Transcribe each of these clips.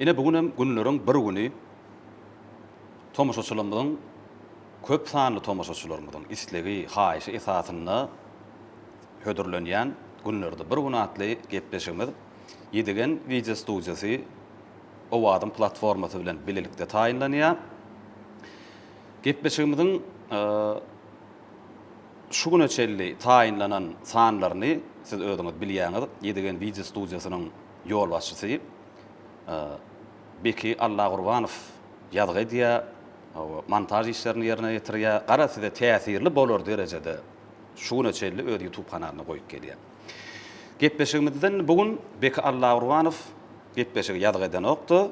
Ine bu günem günleriň bir güni tomaşaçylarymyzyň köp sanly tomaşaçylarymyzyň islegi, haýyşy esasynda hödürlenýän Günlerde bir gün atly gepleşigimiz Ýedigen wideo studiýasy Owazyň platformasy bilen bilelikde taýynlanýar. Gepleşigimiziň Şu güne çenli taýynlanan sanlaryny siz özüňiz bilýäňiz, Ýedigen wideo studiýasynyň ýolbaşçysy Beki Allagurbanow ýazgy edýär, montaž işlerini ýerine ýetirýär, gara size täsirli bolar derejede şu güne çenli öz ýutub kanalyna goýup gelýär. Gepleşigimizden bu gün Beki Allagurbanow gepleşigi ýazgy edenokdy.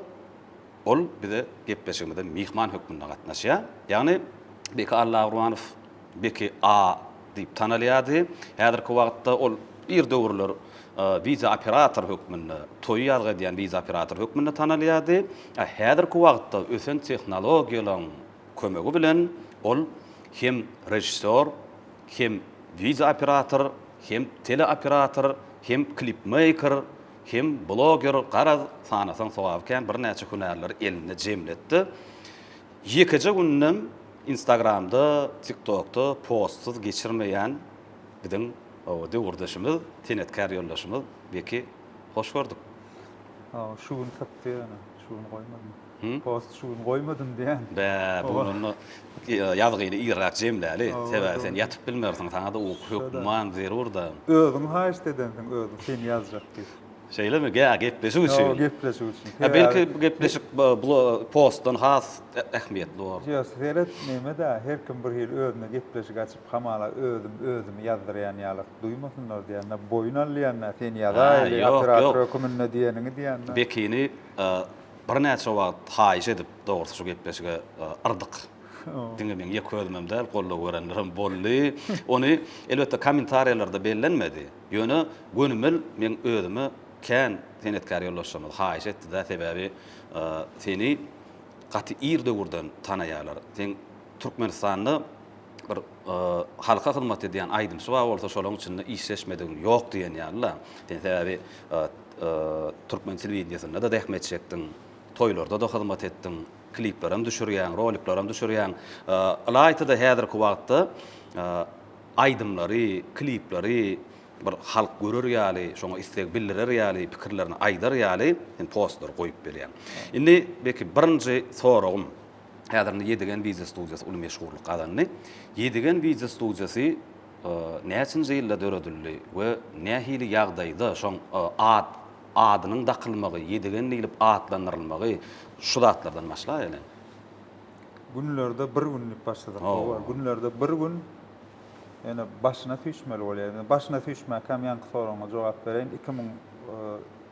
Ol bize gepleşigimize myhman hökmünde gatnaşýar. Ýagny, Beki Allagurwanow Beki A diýip tanalýardy. Häzirki wagtda ol ir döwürler wideooperator hökmünde, toýy ýazgy edýän wideooperator hökmünde tanalýardy. A häzirki wagtda ösen tehnologiýalaryň kömegi bilen ol hem režissýor, hem wideooperator, hem teleoperator, hem klipmeýker, Kim bloger garaz sanasaň sogaby kän birnäçe hünärleri elinde jemletdi. Ýekeje gündem instagramda tiktokda postsyz geçirmeýän biziň owo döwürdeşimiz senetkär ýoldaşymyz Beki hoş gördük. Hawa şu gün sypdy ýöne şu gün goýmadym. Post şu gün goýmadym diýýän. Bä, bu gün onda ýazgyny irräk jemläli. Sebäbi sen ýatyp bilmersiň, saňa-da uky hökman zerur-da. Özüň haýyşt edensiň özüň seni ýazjak diýip. Şeýlemi? Gä, gepleşik üçin. Hawa, gepleşik üçin. Hä, belki bu gepleşik postdan has ähmiýetli bolar. Ýa, seret, neme-dä, her kim bir hili özüne gepleşik açyp, hamala özüm özümi ýazdyrýan ýalyk duýmasynlar diýýän-dä, boýun alýan-dä, seni ýazaýly, operator höküminde diýeniňi diýýän-dä. Bekini Birnäçe wagt haýyş edip, dogrusy şu gepleşige yrdyk. Diňe meň ýeke özümem däl, goldaw berenlerem boldy. Ony, elbetde, kommentariýalarda bellenmedi. Ýöne gönümel meň özüme kän senetkär ýoldaşlarymyz haýyş etdi-de, sebäbi seni gaty ir döwürden tanaýarlar. Seň Türkmenistanda bir halka hyzmat edýän aýdymçy bar bolsa, şolaryň içinde işleşmedigiň ýok diýen ýaly-la. Sen sebäbi Türkmen telewideniýesinde-de zähmet çekdiň, toýlarda-da hyzmat etdiň, kliplerem düşürýäň, roliklerem düşürýäň. Ylaýta-da häzirki wagtda aýdymlary, klipleri bir halk görer ýaly, şoňa isleg bildirer ýaly, pikirlerini aýdar ýaly sen postlary goýup bilýäň. Indi belki birinji soragym, häzir indi Ýedigen wideo studiýasy uly meşhurlyk gazandy. Ýedigen wideo studiýasy Näçinji ýylda döredildi we nähili ýagdaýda şoň at, adynyň dakylmagy, Ýedigen diýlip atlandyrylmagy, şu zatlardan başlaýaly. Günlerde bir gün diýip başlasak bowar. Günlerde bir gün ýene başyna süýşmeli bolýar. Başyna süýşmäkäm ýaňky soragyňa jogap bereýin. Iki müň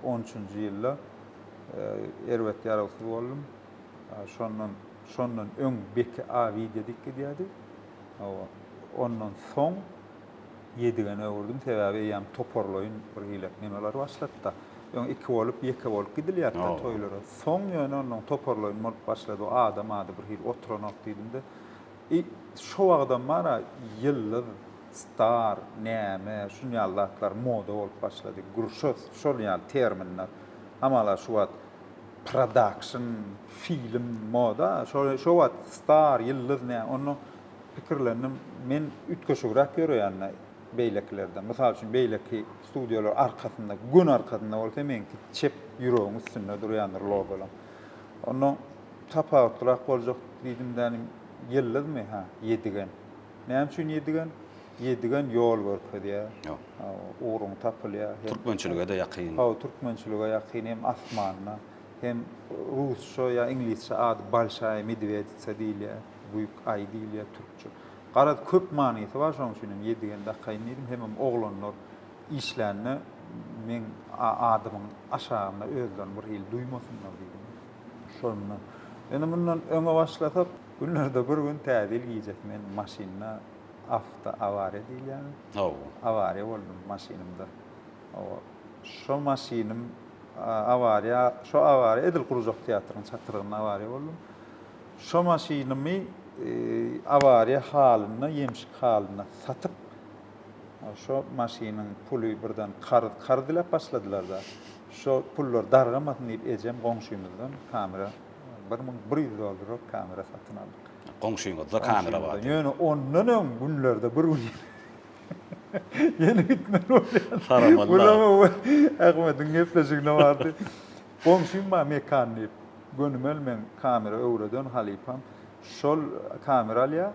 on üçünji ýylda erbet ýaragsyz boldum. Şondan, şondan öň Beki A. Widýa diýip gidýärdi. Hawa, ondan soň Ýedigene öwürdim, sebäbi eýýäm toparlaýyn bir hili nemeler başlady-da. Öň iki bolup, ýeke bolup gidilýärdi-de toýlara. Soň ýöne ondan toparlaýyn bolup başlady. O adam-ady bir hili oturanok diýdim-de. I, şo wagtam bar-a, ýyldyz, star, näme, şunýaly zatlar moda bolup başlady. Grşos, şol ýaly terminler. Hamala şu wagt. Production, film, moda, şo wagt star, ýyldyz nä, onda pikirlendim, men üýtgeşigräk ýöreýän-de beýlekilerden. Mysal üçin, beýleki studiýalar arkasynda, göni arkasynda bolsa, meňki çep ýüregiň üstünde durýandyr logolar. Onda tapawutlyrak boljak diýdim-de, ýyldyzmy? Hä, ýedigen. Näme üçin ýedigen? Ýedigen ýol görkezýär. Ýok. Ugruň tapylýar. Türkmençilige-de ýakyn. Hawa, türkmençilige ýakyn hem asmanyna, hem rusça ýa iňlisçe ady Bolşaýa Medweditsa diýilýär. Büýük aý diýilýär türkçe. Garaz, köp manysy bar, şonuň üçin hem Ýedigen dakaýyn diýdim. Hemem oglanlar işlände meň adymyň aşagynda özlerini bir hili duýmasynlar diýdim. Şondan. Indi mundan öňe başlasak, günlerde bir gün täze ýyl gijesi men maşynda Awtoawariýa diýilýär. Hawa. Awariýa boldum maşynymda. Hawa. Şo maşynym awariýa, şo awariýa edil Gurjak teatrynyň çatrygynda awariýa boldum. Şo maşynymy awariýa halynda, ýemşik halynda satyp, şo maşynyň puly birden karz, karz diläp başladylar-da. Şo pullar dargamasyn diýip ejem goňşymyzdan kamera, bir müň bir ýüz dollarlyk kamera satyn aldyk. Goňşyňyzda kamera bar. Ýöne ondan öň günlerde bir gün ýene gitmeli bolýan. Saramalla. Gulama we Ahmediň gepleşigine bardy. Goňşym bar Mekan diýip. Gönümel meň kamera öwreden halypam. Şol kamera alýar.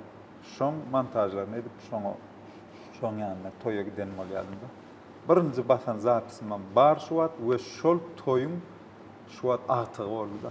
Şoň montažlaryny edip şoňa şoň ýanyna toýa giden bolýadym-da. Birinji basan zapisimem bar şu wagt we şol toýuň şu wagt agtygy boldy-da.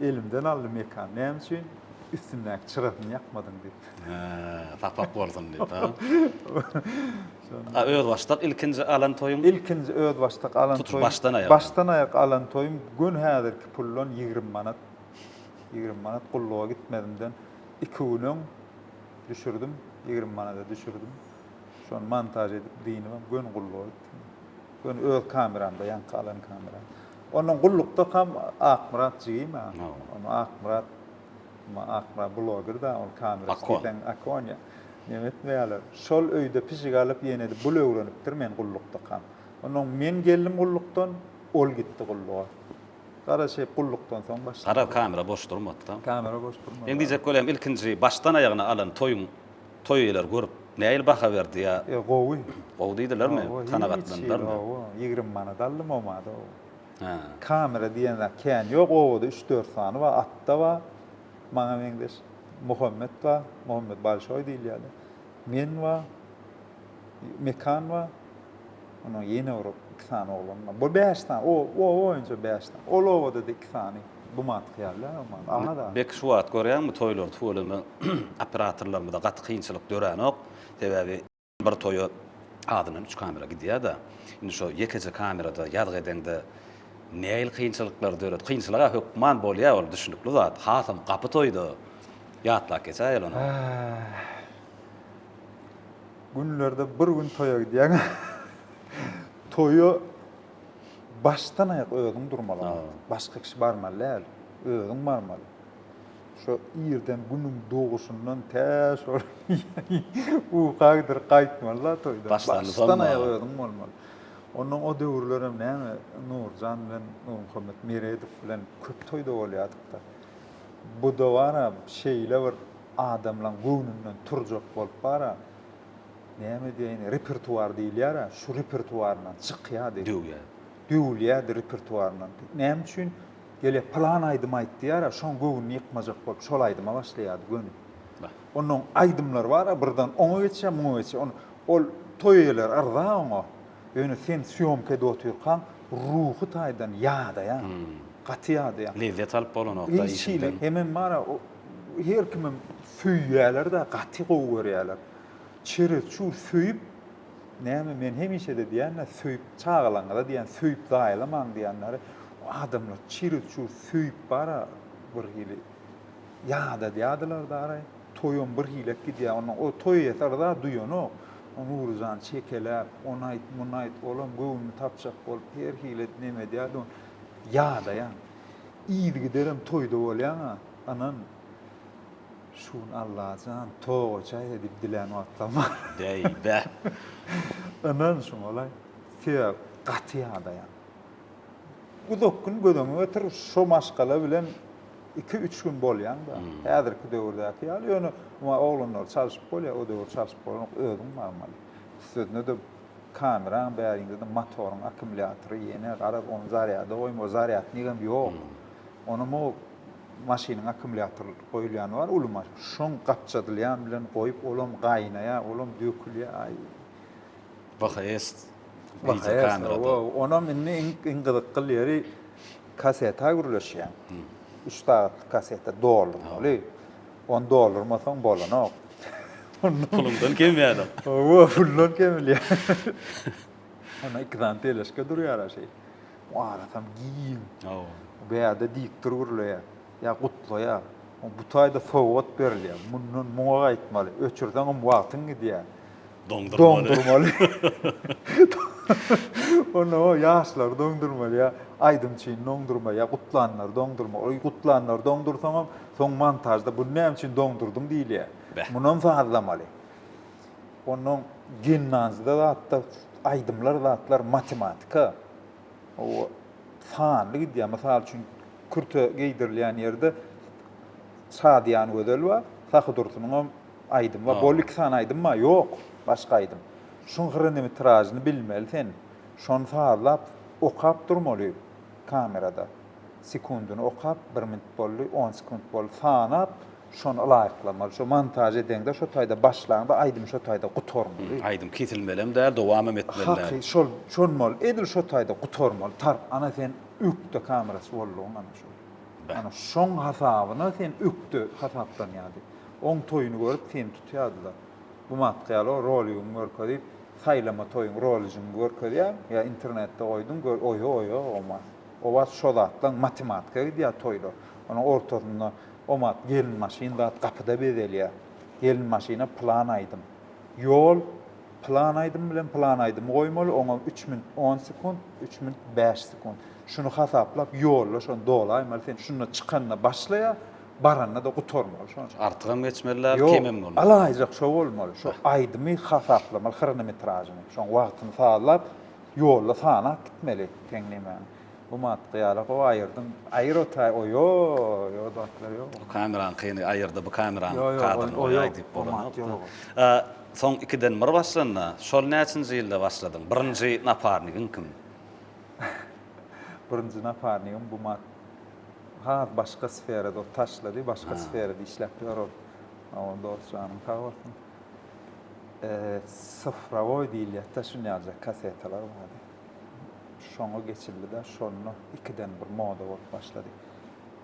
Elimden aldy Mekan, Näme üçin üstündäki çyrasyny ýakmadyň? diýip. Hä, sapak bolsun diýip, a? A özbaşdak ilkinji alan toýuň? Ilkinji özbaşdak alan toýum. Tutuş başdan-aýak. Başdan-aýak alan toýum göni häzirki puldan ýigrimi manat. Ýigrimi manat gulluga gitmezimden iki gün öň düşürdim, ýigrimi manada düşürdim. Şony montaž edip, dynybam göni gulluga gitdim. Ýöne öz kameramda ýaňky alan kameram. Ondan gullukdakam Akmyrat jigim a. Onda Akmyrat ma Akmyrat bloger da ol kamera siten Akonya. Neme etmeýärler. Şol öýde pişik alyp ýene-de bul öwrenipdir men gullukdakam. Ondan men geldim gullukdan, ol gitdi gulluga. Gara şeýip gullukdan soň başlady. Gara kamera boş durmady da. Kamera boş durmady. Men diýjek bolýan ilkinji başdan aýagyna alan toýuň Toý eýler görüp, nähili baha berdi ýa. Ýa gowy. Gowy diýdilermi? Gowy. Kanagatlandylarmy? Hiç gowy. Ýigrimi manat aldym oma-da o. Hä. Kamera diýen zat kän ýok. Obada üç-dört sany bar. Atda bar. Maňa meňzeş. Muhammet bar. Muhammet Balşoý diýilýär-de. Men bar. Mekan bar. Onuň ýene bir iki sany oglany bar. Bu bäş sany, o, oba boýunça bäş sany. Ol obada-da iki sany bu mantyk ýaly-da, Aman aga da. Bek şu wagt görýäňmi, toýlary tüweleme operatorlarymyza gaty kynçylyk döränok. Sebäbi bir toýa azyndan üç kamera gidýär-de. Indi şo ýekeje kamerada ýazgy edeňde nähili kynçylyklar döret. Kynçylyk-a hökman bolýar, ol düşnükli zat. Hasam gapy toýda. Ýatlap geçäýeli ony. Äh. Günlerde bir gün toýa gidýäň. Toýa başdan aýak özüň durmaly. Başga kişi barmaly däl. Özüň barmaly. Şo irden günüň doguşyndan tä şo uka gidir gaýtmaly da toýdan. Başdan aýak özüň bolmaly. Ondan o döwürler hem näme Nurjan bilen Nurmuhammet Meredow bilen köp toýda bolýadyk-da. Bu da bar-a şeýle bir adamlaň göwnünden turjak bolup bar-a, näme diýäýini, repertuar diýilýär-ä, şu repertuaryndan çykýady. Döwýär. Döwülýädi repertuaryndan. Näme üçin? Gel-e, pylan aýdym aýt diýýär-ä, şoň göwnüni ýykmajak bolup, şol aýdyma başlaýady gönüp. Bah. Onnoň aýdymlary bar-a, birden oňa geçýär, muňa geçýär. Ony, ol toý eýeleri yrza oňa. Ýöne sen sýomkada otyrkaň, ruhy taýdan ýadaýaň. Hum. Gaty ýadaýaň. Lezzet alyp bolanok-da işiňden. Ilçili hemem bar-a, o. Her kimem söýýäler-de, gaty gowy görýäler. Çereçur söýüp, näme, men hemişe-de diýen-ä, söýüp çagalaňyza diýen, söýüp zaýalamaň diýenleri, adamlar çereçur söýüp bar-a, birhili ýadadýadylar daraý. Toýam birhilek gidýä, onda o toý eýesi yza duýanok. O Nuryjany çekeläp, ony aýt, muny aýt, olam göwnüni tapjak bolup, her hili edip neme edýärdi, ony ýadaýaň. Yzygiderem toýda bolýaň-a, ynyn. Şu gün Allajan, toga çaý-a diýip dilän wagtlam bar. Bäý, bä! Ynyn, şuňalaý. Sebäp, gaty ýadaýan. Uzak gün göz öňüňe getir, şo maşgala bilen iki-üç gün bolýaň-da. Häzirki döwürdäki ýaly, ýöne, muňa oglanlary çalşyp bolýar, o döwür çalşyp bolanok, özüň barmaly. Üstesine-de, Kameraň bärinde-de motoryň akkumulýatory ýene, garaz, ony zarýada goýma, zarýadnigem ýok. Ony mugu maşynyň akkumulýatory goýulýany bar, uly maş, şoň gapjadylýan bilen goýup, olam gaýnaýar, olam dökülýär, aý. VHS wideokamera. Wo, onam indi iň, iň gyzykgyl ýeri, kaseta gürleşýäň. Üç sagatlyk kaseta doldurmaly. Ony doldurmasaň bolanok. Pulumdan kemýänok. Owo, puldan kemilýär. Onda iki sany teleşka durýar a şeý. O arasam giň. Owo. Bu ýerde diktor gürleýär. Ýa gutlaýar. Bu taýda sowgat berilýär. Mundan muňa gaýtmaly. Öçürseňem wagtyň gidýär. Doňdurmaly. Onda o ýaşlar doňdurmaly ýa aýdym üçin doňdurma ýa gutlanlar doňdurma. Oý gutlanlar doňdursaňam soň montažda bu näme üçin doňdurdyň diýilýär. Munam sazlamaly. Ondan gimnazda zatda aýdymlar zatlar matematika. O sanly gidýär. Mysal üçin kürte geýdirilýän ýerde Şadyýan Gözel bar. Sahy Dursunyňam Aýdym ba bol iki sany aýdym ba ýok başga aýdym şuň hyrynimi tiražyny bilmeli sen şony sazlap okap durmaly kamerada sekundyny okap bir minut boldy on sekunt boldy sanap şony ylaýyklamaly şo montaž edeňde şo taýda başlaňda aýdym şo taýda gutarmaly. Aýdym kesilmelem däl dowamem etmeli däl. Haky şol şonmaly edil şo taýda gutarmaly tarp ana sen ökde kamerasy boldugyň ana şo ana şoň hasabyna sen ökde hasaplanýady. Oň toýuny görüp seni tutýardylar. Bu matka ýaly roligiňi görkezip saýlama toýuň roligiňi görkezýär ýa internetde goýduň gör oýo oýo oma obat şo zatlaň matematika gidýär toýlar onuň ortasynda omat gelin maşyn zat gapyda bezelýär gelin maşyna plan aýdym ýol plan aýdym bilen plan aýdymy goýmaly oňa üç minut on sekunt üç minut bäş sekunt şuny hasaplap ýolla şony dolaýmaly sen şunda çykanda başlaýar baranda-da gutarmaly şonça. Artygam geçmeli däl, kemem bolmaly. Ýok, alaýjak şo bolmaly, şo aýdymy hasaplamaly hronometražyny, şoň wagtyny sazlap, ýolda sanap gitmeli, seň nemäň. Bu maddy ýaly gowy aýyrdyň, aýyr otaý, oýoý, o zatlar ýok. O kamerany kyny aýyrdy, bu kamerany kadryny goýaý diýip bolanokda. Soň ikiden bir başlanda, şol näçinji ýylda başladyň, birinji naparnigiň kim? Birinji naparnigim bu maddy. Has başga sferada ol taşlady, başga sferada işläp ýör ol. Awa dos janyň sag bolsun. Sifrowoý diýilýärdi-de şunýaljak kasetalar bardy. Şoňa geçildi-de şonda ikiden bir moda bolup başlady.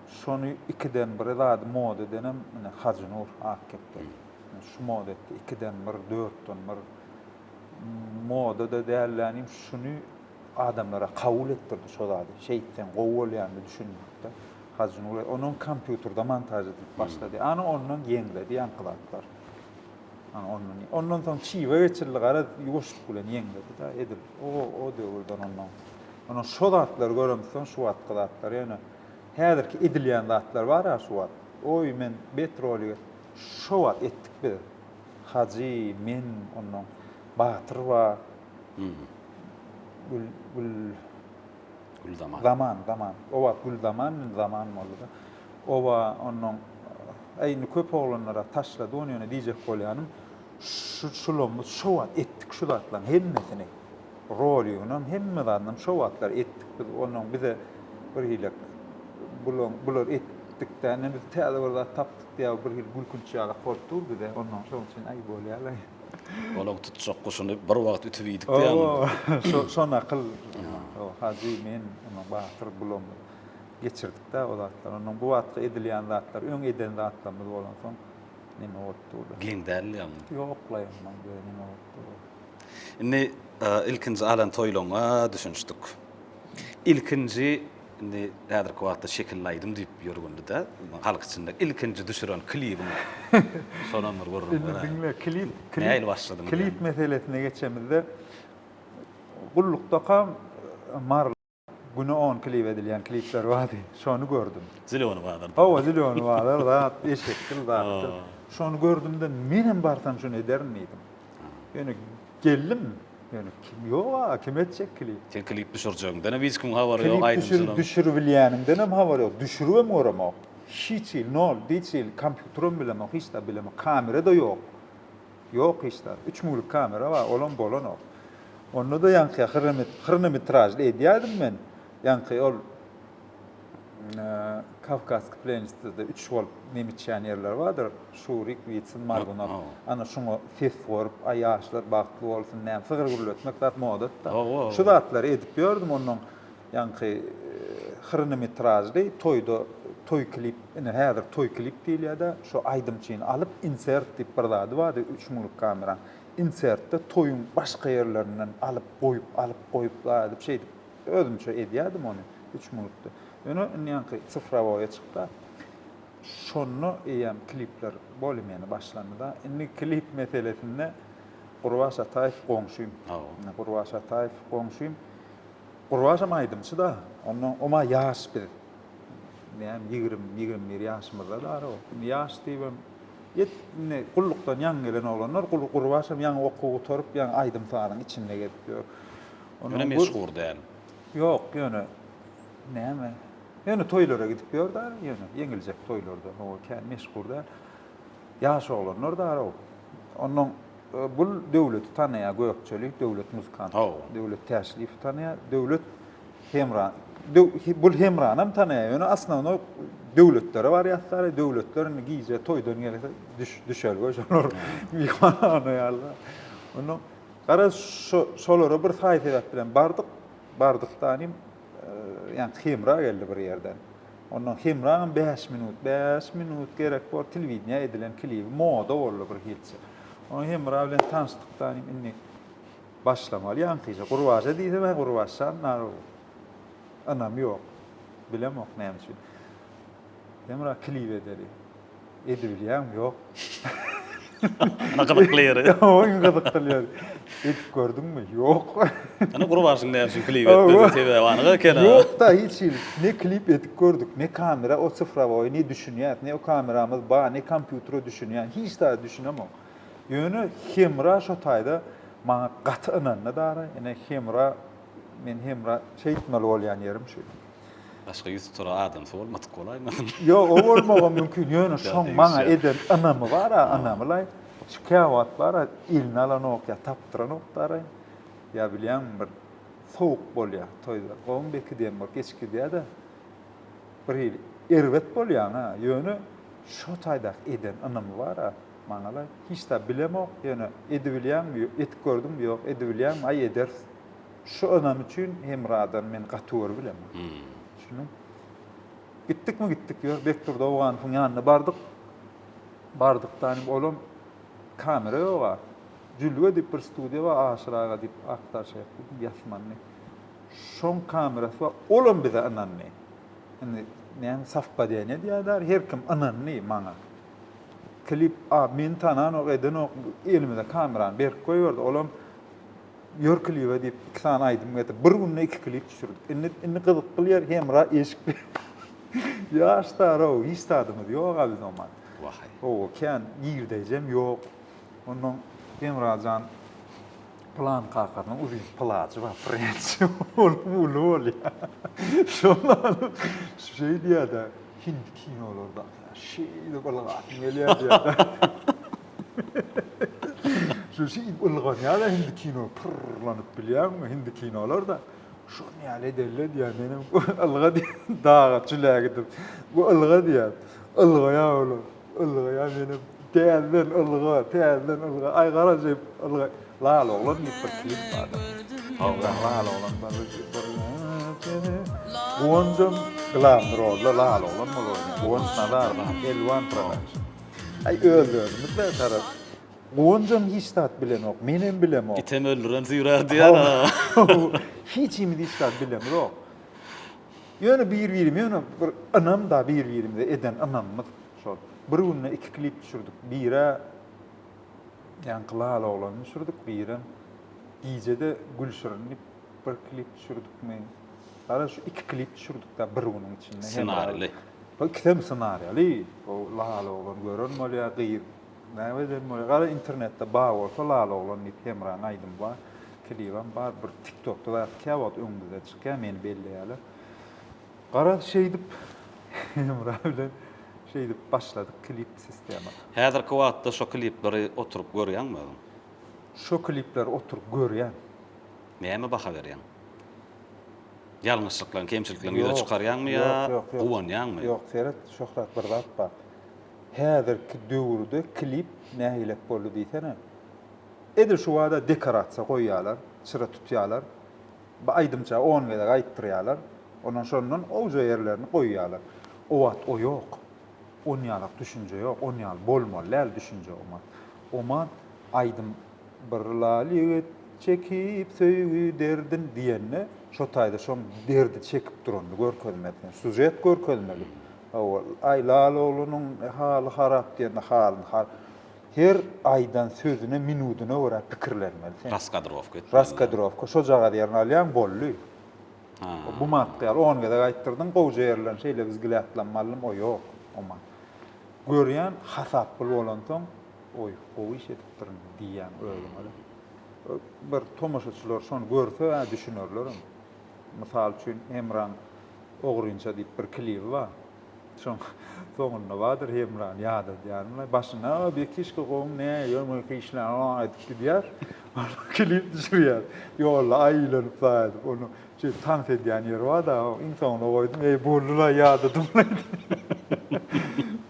Şony ikiden bir zady moda edenem ine Hajynur Akkepdi. Şu moda etdi, ikiden bir, dörtden bir moda-da dälläniň şuny adamlara kabul etdirdi şo zady. Şeýtseň gowy bolýandy düşünmekde. Hajy Nury onuň kompýuterde montaž edilip başlady. Ana ondan ýeňledi ýaňky zatlar. Ana ondan. Ondan soň çyga geçildi garaz ýuwaşlyk bilen ýeňledi da edil. O o döwürden ondan. Ana şo zatlary göremsoň şu wagtky zatlar ýöne häzirki edilýän zatlar bar ha şu wagt. Oý men bet roly şo wagt etdik biz. Hajy, men, ondan Batyr bar. Gül, gül... Gülzaman. Zaman, zaman. O wagt Gülzaman, indi zaman boldy-da. Oba, onnoň, Äý, indi köp oglanlar-a taşlady ony, ýöne diýjek bolýanym, şu şulamyz şo wagt etdik şu zatlaryň hemmesini. Roligynam, hemme zadynam şo wagtlar etdik biz. Onnoň bize bir hili bulaň, bular et, dik-dä, indi biz täze bir zat tapdyk diýýär, bir hili gülkünç ýalak bolup dur bize. Onnoň şonuň üçin, äý, bolýar-laý. Olaň tutjak guşuny bir wagt ütüp iýdik diýýäňizmi? Şo nakyl. Hajy, men, ondan Batyr bulam geçirdik-dä o zatlary. Ondan bu wagtky edilýän zatlar, öň eden zatlarymyz bolansoň, neme bolupdy ol? Geň däl diýýäňmi? Ýok-laý, ondan göýä neme bolupdy ol? Indi ilkinji alan toýlaryňa düşünişdik. Ilkinji Indi häzirki wagtda şekilli aýdym diýip ýörgünli-dä, halk içinde ilkinji düşüren klibiň şonam bir gürrüň ber. Indi diňle, klip, nähili başladyň? Klip meselesine geçemizde, gullukdakam Mary güne on klip edilýän klipler bardy. Şony gördüm. Zelýony bazar. Hawa, zelýony bazar zat, eşekdir, zatdyr. Şony gördüm-de, menem barsam şuny ederin diýdim. Ýöne geldim. Ýöne kim ýok aga kim etjek klip. Sen klip düşürjegiň dene hiç kimiň habary ýok aýdymçylaň. Klip düşüribilýänimden hem habar ýok düşürip hem göremok hiç hili nol hiç hili kompýuter hem bilemok hiç zat bilemok kamera da ýok ýok hiç zat üç müňlük kamera bar ol hem bolanok onda da ýaňky hyrnemitražly edýärdim men ýaňky ol Kawkaski plenistde-de üç bolup nemçýän ýerler bardyr, Şurik, Witsin, Margunow. Ana, şoňa ses gorup, Aý, ýaşlar bagtly bolsun, näme, sygyr-gürletmek zat moda-da. Şu zatlary edip ýördüm, onuň ýaňky hrnometražly toýda toý klip, ine, häzir toý klip diýilýär-de, şo aýdymçyny alyp, insert diýip bir zady bardy, üç müňlük kameraň. Insertde toýuň başga ýerlerinden alyp goýup, alyp goýup, zaýadyp, şeýdip. Özümçe edýärdim ony, üç minutda. Ýöne indýänki sifrowoýa çykda, şonda eýýäm klipler boli meni başlandy-da. Indi klip meselesinde Gurbaş Ataýew goňşym. Gurbaş Ataýew goňşym. Gurbaşam aýdymçy-da. Onda oma ýaş biz. Näme, ýigrimi, ýigrimi bir ýaşymyzda bar o. Indi ýaş diýibem, ýet, indi gullukdan ýaňy gelen oglanlar, Gurbaşam ýaňy okuw gutaryp, ýaňy aýdym-sazyň içinde gezip ýör. Ýöne meşhur däl. Ýok, ýöne näme? Ýöne toýlara gidip ýör-de, ýöne ýeňiljek toýlarda. Hawa, kän meşhur däl. Ýaş oglanlar darag. Onnoň bu Döwleti tanaýar, Gökçeli, Döwlet muzykant. Döwlet Täşliýewi tanaýar. Döwlet Hemran. Bu Hemranam tanaýar, ýöne asnownoý döwletlere barýas da, döwletler indi gije toýdan gelse, düşelge şolar myhmanhana ýaly. Onnoň Garaz, şo-şolara bir saý-sebäp bilen bardyk. Bardyk-da inim, ýa Hemra geldi bir ýerden. Ondan Hemraňam bäş minut, bäş minut gerek bor, telewideniýä edilen klibi moda boldy bir hilçe. Ondan Hemra bilen tanyşdyk-da inim, indi başlamaly ýaňkyja. Gurbaja diýsem, hä, Gurbaşjan, nagow, ynam ýok. Bilemok näme üçin. Hemra klip edeli. Edibilýäňmi? Ýok. Ana gyzykly ýeri. Iň gyzykly ýeri. Edip gördüňmi? Ýok. Ana gurbaşyň näme üçin klip etmedi? Sebäbi anyk ekeni. Ýok-da hiç hili. Ne klip edip gördük, ne kamera o sifrowoýy ne düşünýäs, ne o kameramyz bar, ne kompýutere düşünýän. Hiç zada düşünemok. Ýöne Hemra şo taýda maňa gaty ynandy dara. Ine Hemra men Hemra şeýtmeli bolýan ýerim şu. Başga ýüz tutar adamsy bolmadyk bolaýmasyn? Ýok, o bolmagam mümkin. Ýöne şoň maňa eden ynamy bar-a, ynamy-laý. Şu käwagt bar-a, eline alanok ýa tapdyranokdar-aý. Ýa bilýäňmi, bir sowuk bolýar toýda. Gowumy beki diýen bor, geç gidýär-de, bir hili erbet bolýaň-a. Ýöne şo taýdaky eden ynamy bar-a, maňa-laý. Hiç zat bilemok, ýöne edibilýäňmi, etip gördüňmi, ýok, edibilýäňmi, aý, ederis. Şu adam üçin Hemradan men gaty gör bilemin. Düşündiň? Gitdikmi gitdik ýör, Bekdurdy Owganowyň ýanyna bardyk. Bardykdanam olam kamera ýog-a. Jülge diýip bir studiýa bar, Aşyr aga diýip aktar şeýle etdi, ýasmandy. Şoň kamerasy bar, olam bize ynandy. Indi näme sowpadeniýe diýýärler, her kim ynandy maňa. Klip, a meni tananok, edenok, elimize kamerany berip goýberdi, olam Ýör klibe diýip iki sany aýdym getir. Bir günde iki klip düşürdik. Indi indi gyzyk gylýar Hemra eşik. Ýaş dara-ow, hiç zadymyz ýok-a biz oman. Wahaý. Owo kän girdeýjem ýok. Ondan Hemra jan Plan kakasynyň uzyn plajy bar, frençi. Onuň uly bolýa. Şonda alyp şeý diýýä-de, Hindi kinolardaky ýaly şeýdip ylgasym gelýä diýýä-de. Şu şi ylganýala hindi kino pyrrlanyp bilýäňmi hindi kinolarda şony ýaly edelle diýýä menem ylga diýä daga çüle gidip bu ylga diýýä ylgaýa olar ylgaýa menem täzeden ylga täzeden ylga aý gara jep ylga lal oglan diýip bir klip barda Awra lal oglan barda Gonjam glamdrolda lal oglan bolar Gonç nazar bar elwan prodaýşy Aý özlerini bilen tarap. Gonjam hiç zat bilenok, menem bilemok. Item öldüren süýrä diýen a. Hiç himiz hiç zat bilemzok. Ýöne bir-birimi ýöne bir ynam da bir-birimize eden ynamymyz şol. Bir günde iki klip düşürdik. Bire Ýaňky lala oglany düşürdik, birem Gijede Gülşirin diýip bir klip düşürdikmi? Gara şu iki klip düşürdik-de bir günüň içinde. Ssenarili. Bu ikisem ssenariýaly. Bu Lala oglan gören bolýar, gyz näme eden bolýar. Gara internetde bar bolsa Lala oglan diýip Hemranyň aýdymy bar. Klibem bar. Bir TikTokda zat kä wagt öňümizden çykýar, meni belleýärler. Gara şeýdip Hemra bilen şeýdip başladyk klip sistema. Häzirki wagtda şo klipleri oturyp görýäňmi özüň? Şo klipleri oturyp görýän. Näme baha berýäň? Ýalňyşlyklaň, kemçilikleň ýüze çykarýaňmy ýa guwanýaňmy? Ýok, seret, Şöhrat bir zat bar. Häzirki döwürde klip nähilek boldy diýsene. Edil şu bada dekorasiýa goýýarlar, çyra tutýarlar. Bir aýdymça on gezek aýtdyrýarlar. Ondan şondan oňja ýerlerini goýýarlar. O wagt o ýok. Onýalak düşünje ýok, onýaly bolmaly däl düşünje o wagt. O wagt aýdym Bir lal ýigit çekip söýgi derdin diýende şo taýda şo derdi çekip duranyny görkezmeli sen sužet görkezmeli owal aý lal oglunyň haly harap diýende halyny har her aýdan sözüne minudyna görä pikirlenmeli sen Raskadrowka etmeli raskadrowka şojagaz ýerini alýaň bolly ha bu matky ýaly on gezek aýtdyrdyň gowja ýerlerini şeýle biz gilä atlanmalym o ýok o mat görýän hasaply bolansoň Oý, gowy iş edipdirin diýýäň özüňe-de. Bir tomaşaçylar şony görse-ä düşünerlerem. Mysal üçin, Hemraň ogrynça diýip bir klibi bar. Şoň soňunda bardyr Hemrany ýadadýanyň. Başynda, a, bekişki goň, ne, ýöňeki işler, a, aýdyp gidýär. Klip düşürýär. Ýolda aýylanyp saýadyp, ony Şeýdip tans edýän ýeri bar-da, iň soňuna goýdum, eý, boldy-laý, ýadadym-laý diýip.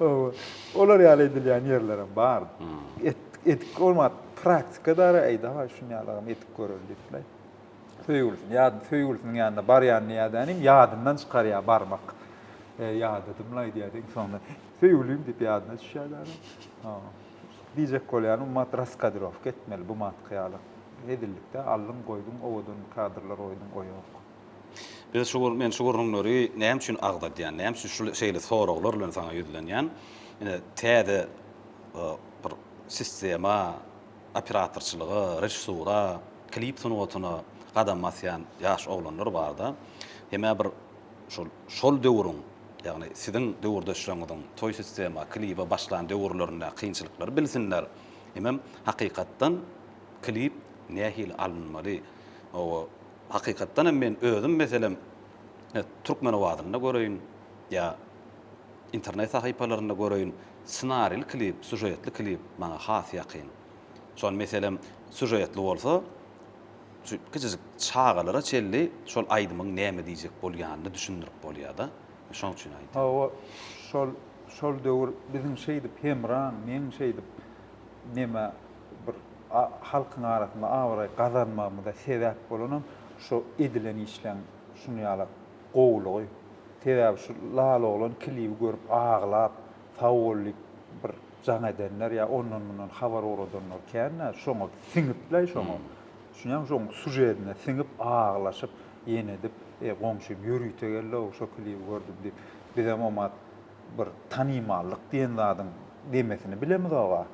Oba, olar ýaly edilýän ýerlerem bar. Et, edip bolmap, praktika dara, eý, dawaý, şuny ýalygam edip göreli diýip-laý. Söýgülisini, ýa söýgülisiniň ýanyna barýan nädänim, ýadyndan çykarýar barmak. Eý, ýadadym-laý diýýär-de, iň soňunda, söýgülim diýip ýadyna düşýär-de adam. Diýjek bolýanym ummat raskadrowka etmeli bu matky ýaly hezillikde aldyň goýduň owadan kadrlar goýduň o ýok. Biz şu gür men şu gürrüňleri näme üçin agzadýan näme üçin şul şeýle soraglar bilen saňa ýüzlenýän ine täze bir sistema operatorçylyga režissura klip sungatyna gadam basýan ýaş oglanlar barda hemä bir şol şol döwrüň Ýagny siziň döwürdeşleriňiziň toý sistema, kliba başlan döwürlerinde kynçylyklary bilsinler. Hemem hakykatdan klip nähili alynmaly. Owo hakykatdan hem men özüm meselem Türkmenowazynda göreýin ýa internet sahypalarynda göreýin snarili klip, sužetli klip maňa has ýakyn. Şony meselem sužetli bolsa. Şu kiçijik çagalara çenli şol aýdymyň näme diýjek bolýanyny düşündirip bolýar-da. Şonuň üçin aýdýan. Hawa, şol, şol döwür biziň şeýdip hemraň, meň şeýdip neme bir halkyň arasynda abraý gazanmagymyza sebäp bolanam şu edilen işleň şuny ýaly gowulygy. Sebäbi şu Lala oglan klibi görüp aglap, sag bol diýip bir. Jaň edenler ýa ondan mundan habar ugradanlar kän-ä, şoňa siňipläý şoňa. Düşünýäňmi, şoň sužedine siňip aglaşyp, ýene edip, e, goňşym ýörite geldi-ow, şo klibi gördüm diýip, bizem omat bir tanymallyk diýen zadyň demesini bilemizoga.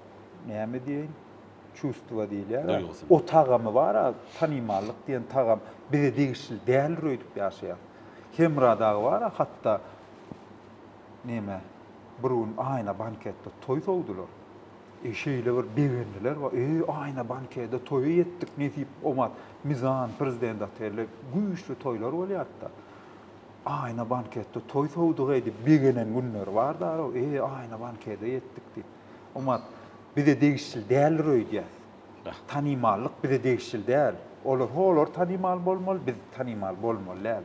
Näme diýeýin, çustowa diýilýär-ä. Duýgusy. O tagamy bar-a, tanymallyk diýen tagam bize degişli däldir öýdüp ýaşaýas. Hemra dagy bar-a hatda Neme, bir gün Aýna banketde toý sowdular. E, şeýle bir begendiler, Wa, eý, Aýna bankede toýa ýetdik, nesip, omat, Mizan, Prezident otelde güýçli toýlar bolýardy-da. Aýna banketde toý sowdug-eý diýip begenen günleri bardy-araw, eý, Aýna bankede ýetdik diýip. Omat, bize degişli däldir öýdýäs. Tanymallyk bize degişli däl. Olar holar tanymal bolmaly, biz tanymal bolmaly däl.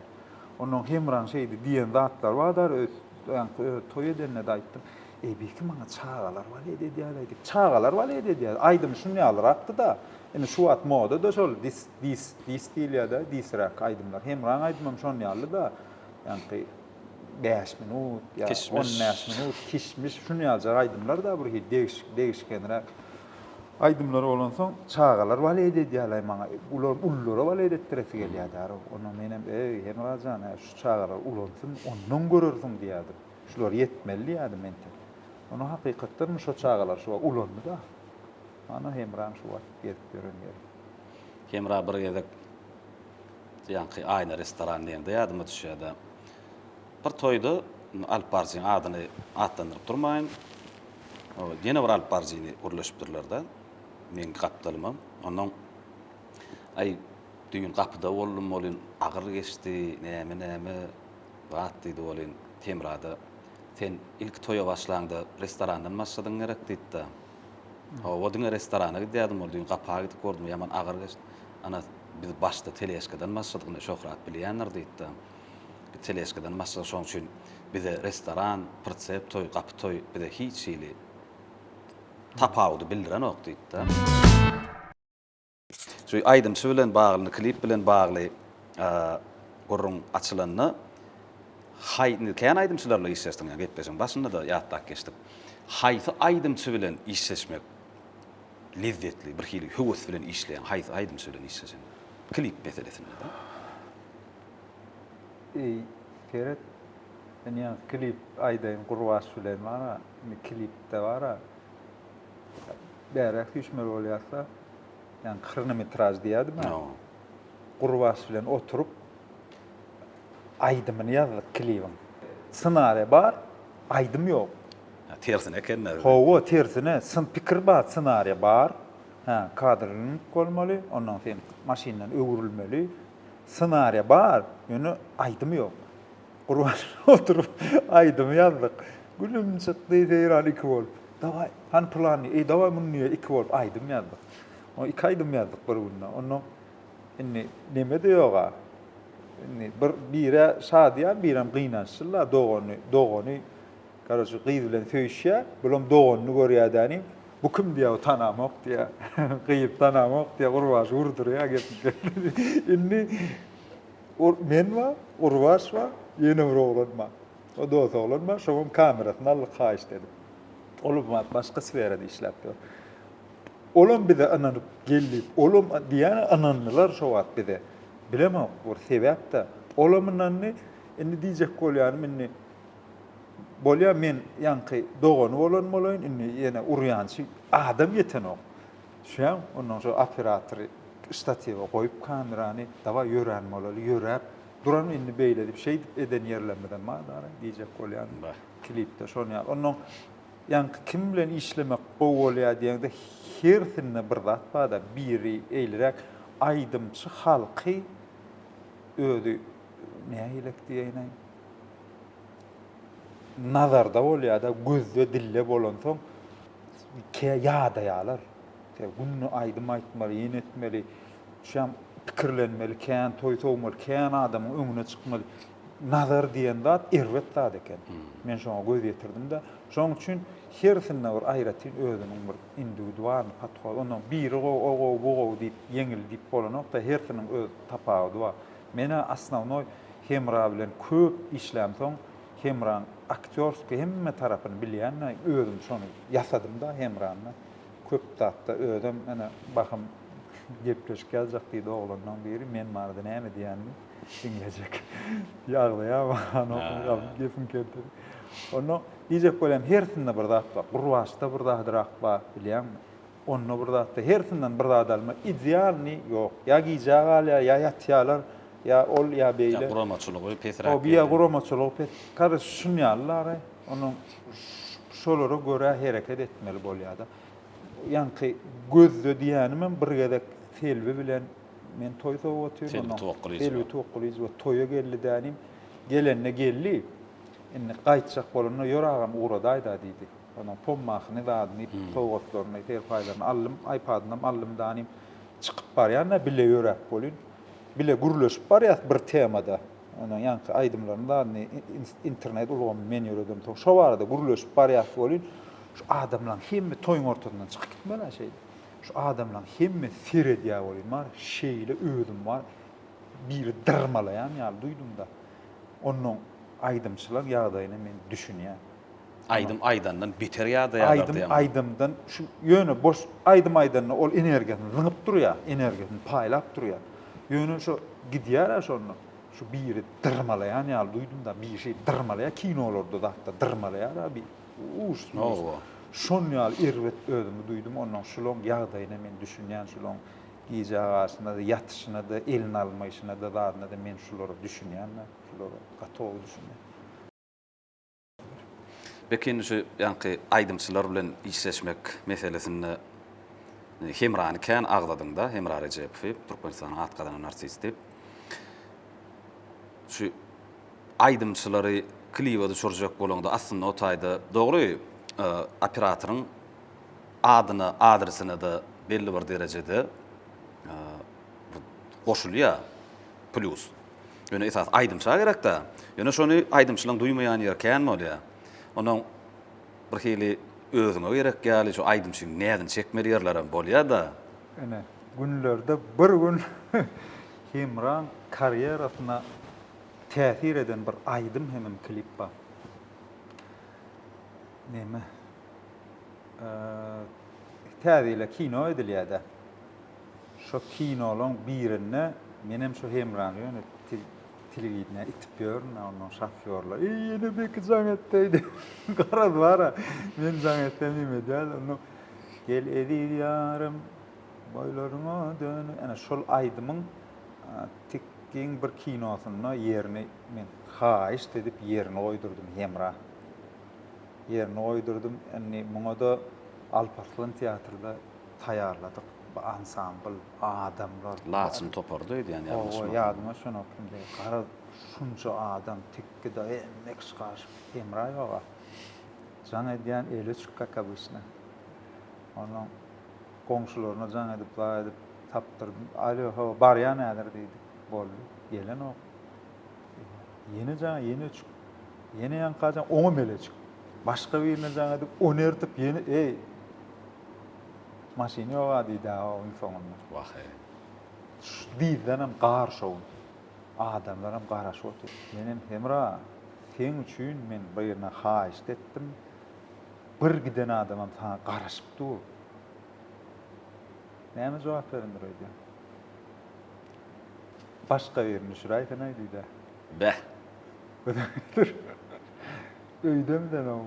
Onnoň Hemraň şeýdi diýen zatlary bar dar öz öňki öz toý edende-de aýtdym. Eý beýki maňa çagalar balet edýär aýdyp. Çagalar balet edýär. Aýdymy şun ýalyrakdy-da. Indi şu wagt moda-da şol dis dis dis diýilýär-de, disräk aýdymlar. Hemraň aýdymam şon ýalyda. Ýaňky bäş minut ýa on bäş minut kişmiş şun ýaljak aýdymlar-da bir hili degişgenräk. Aýdymlar bolansoň çagalar balet edýärlaý maňa ular ulylara balet etdiresi gelýärdi ara onda menem eý Hemra jan hä şu çagalar ulansyn ondan görersiň diýerdim şular ýetmeli diýerdim entek onda hakykatdanmy şo çagalar şu wagt ulandy da mana Hemram şu wagt gezip ýören ýeri. Hemra bir gezek ýaňky Aýna restoran diýende ýadyma düşýärda bir toýda alyp barjyň adyny atlandyryp durmaýyn. Ol ýene bir alyp baryjyny gürleşipdirler-de, meň gapdalymam. Onnoň, Aý, düýn gapyda boldum welin, agyr geçdi, näme-näme zat, diýdi welin, Temrada, Sen ilki toýa başlaňda restorandan başladyň gerek, diýdi-de. Hawa, diňe restorana gidýärdim, ol düýn gapa gidip gördüm, ýaman agyr geçdi. Ana, biz başda teležkadan başladyk, indi Şöhrat bilýändir, diýdi-de. Teleşkadan başga şoň üçin bize restoran, pritsep toý, gapy toý bize hiç hili tapawudy bildirenok diýipdi. Şu aýdymçy bilen bagly, klip bilen bagly gürrüň açylanda haý indi kän aýdymçylarla işleşdim ýa gepleşigiň başynda-da ýatlap geçdik. Haýsy aýdymçy bilen işleşmek lezzetli, birhili höwes bilen işleýäň, haýsy aýdymçy bilen işleşeň? Klip meselesinde-de. Eý seret men ýaňy klip aýdaýyn gurbaş bilen bara indi klipde bara bäräk süýşmeli bolýarsa ýaňy kronometraž diýädim ha gurbaş bilen oturyp aýdymyny ýazdyk klibiň ssenariýa bar aýdym ýok tersine ekende hawa tersine pikir bar ssenariýa bar hä kadr bolmaly ondan sen maşyndan öwrülmeli Ssenariýa bar, ýöne aýdym ýok. Gurban oturyp aýdym ýazdyk. Gülüm çykdy Seýran iki bolup. Dawaý, hany plan diýip, eý dawaý muny diýip iki bolup aýdym ýazdyk. O iki aýdym ýazdyk bir günde. Onda indi neme-de ýog-a. Indi bir bire şadyýan, birem gynançly-la dogany, dogany. Karoçe gyz bilen söýüşýä, bulam doganyny görýä däni, bu kim diýä bu tanamok diýä, gyz tanamok diýä, Gurbaş urdurýa gepini. Indi men bar, Gurbaş bar, ýene bir oglan bar. O dos oglan bar, şoňam kamerasyny aldyk haýyşt edip. Ol wagt başga sferada işläp ýör. Olam bize ynanyp geldi, olam diýýän ynandylar şo wagt bize. Bilemok bir sebäpde. Olam ynandy. Indi diýjek bolýanym indi Bolýa men ýaňky dogany bolan bolaýyn indi ýene urýançy adam ýetenok. Düşýäň, ondan soň operatory ştatiwa goýup kamerany dawaý ýörän bolaly ýöräp duran indi beýledip şeýdip eden ýerlerimizem bar dagly diýjek bolýan klipde şony ýaly. Ondan ýaňky kim bilen işlemek gowy bolýa diýeňde hersinde bir zat barda biri eýliräk aýdymçy halky özi nähilek diýäýnäý. nazarda bolýar-da, gözde, dilde bolansoň, kä ýadaýarlar. Kä günde aýdym aýtmaly, ýene etmeli, şam pikirlenmeli, kän toý sowmaly, kän adamyň öňüne çykmaly. Nazar diýen zat erbet zat eken. Men şoňa göz ýetirdim-de. Şonuň üçin hersinde bir aýratyn özüniň bir indiwidualnyý podhod. Onda biri gowy, o gowy, bu gowy diýip, ýeňil diýip bolanok-da, hersiniň öz tapawudy bar. Men-ä osnownoý Hemra bilen köp işlämsoň, Hemraň aktýorskiý hemme tarapyny bilýän-de, özüm şony ýasadym-da Hemrany. Köp zatda özem ene bahym gepleşik ýazjak diýdi oglanlaň biri, men barada näme diýenimi diňlejek diýip agzaýarmy, anohym gepiň kempiri. Onda diýjek bolýan hersinde bir zat bar. Gurbaçda bir zadyrak bar, bilýäňmi? Onda bir zatda hersinden bir zat alma, idealnyý ýok. Ýa gijä galýar, ýa ýatýarlar, ýa ol, ýa beýle. Ýa guramaçylygy pesräk. Hoby ýa guramaçylygy pes. Karys şun ýalylara onuň şolara görä hereket etmeli bolýada. Ýaňky gözde diýenimem bir gezek Selbi bilen men toý sowup otyryn onuň. Selbi Towakgylyjy we toýa geldi dänim. Gelende geldi. Indi gaýtjak bolanda ýör agam ugradaýda diýdi. Onuň pommasyny, zadyny, sowgatlaryny, serpaýlaryny aldym. Aýpadynam aldym, danym. Çykyp barýan-da, bile ýöräp welin, bile gürleşip barýas bir tema-da. Onuň ýaňky aýdymlaryny, zadyny internet ulgamyny men ýöredemsoň, soň şo barada gürleşip barýas welin, şu adamlaryň hemme toýuň ortasyndan çykyp gitmeli-ä şeýdip. Şu adamlaryň hemmesi seredýär welin, bar şeýle özüm bar, biri dyrmalaýan ýaly duýdum-da. Onnoň aýdymçylar ýagdaýyna men düşünýän. Aýdym aýdandan beter ýadaýarlar Aýdym diýemok. aýdymdan şu ýöne boş aýdym aýdanda ol energiýasyny zyňyp durýar, energiýasyny paýlap durýar. Ýöne şo gidýär-ä şonda şu biri dyrmalaýan ýaly duýdum-da, bir şey dyrmalaýar, kinolarda zatda dyrmalaýar-a bir uus uus. Hawa. Şon ýaly erbet özümi duýdum, onnoň şulaň ýagdaýyna men düşünýän, şulaň gije agaçyna-da, ýatyşyna-da, elini almaýşyna-da, zadyna-da men şulara düşünýän-ä, şulara gatowy düşünýän. Belki indi şu ýaňky aýdymçylar bilen işleşmek meselesinde Hemrany kän agzadyňda, Hemra Rejepowy, Türkmenistanyň at gazanan artisti. Şu aýdymçylary kliba düşürjek bolaňda, aslynda o taýda dogry e, operatoryň adyna, adresine de belli bir derejede e, goşulýar plýus. Ýöne esasy aýdymça gerek-dä. Ýöne şony aýdymçylaň duýmaýan ýeri kän bolýar. Onuň bir hili özüňe gerek ýaly şu aýdymçyň näzini çekmeli ýerlerem bolýar-da. Ine, günlerde bir gün Hemraň karýerasyna täsir eden bir aýdym hemem klip bar. Neme? Täze ýyla kino edilýär-dä. Şo kinolaň birinde menem şo hemrany ýöne telewideniýä itip ýörün a ondan şofýorlar eý ýene beki jaň etdeý diýip garaz bara men jaň etsem nim edýär ondan gel eziz ýarym boýlaryňa dön ene şol aýdymyň tik giň bir kinosynda ýerini men haýyşt edip ýerini goýdurdym hemra ýerini goýdurdym. Indi muňa-da Alparslan teatrda taýýarladyk. Bu ansambl, adamlar. Laçyn topary-da öýdýän ýalňyşmazam. Hawa, ýadyma şonok indi. Garaz, şunça adam, tekge-de hemme kişi garyşyp, Hemraýew aga jaň edýän, eli öçük, kak obysna. Onnoň goňşularyna jaň edip, zar edip tapdyrdym. Alo, hawa, barýan häzir diýdik. Boldy. Gelenok. Ýene jaň, ýene çyk. Ýene ýaňka jaň, oňa mele çyk. Başga birine jaň edip, ony ertip, ýene, eý, maşyn ýog-a diýdi-ä iň soňunda. Wah-eý. Şu dizdenem gar şowun. Adamlaram garaşyp otyr. Menem, Hemra, seň üçin men birine haýyşt etdim. Bir giden adamam saňa garaşyp dur. Näme jogap berendir öýdýäň? Başga birini düşüräýsenaý diýdä. Beh. Öýdem sen oň.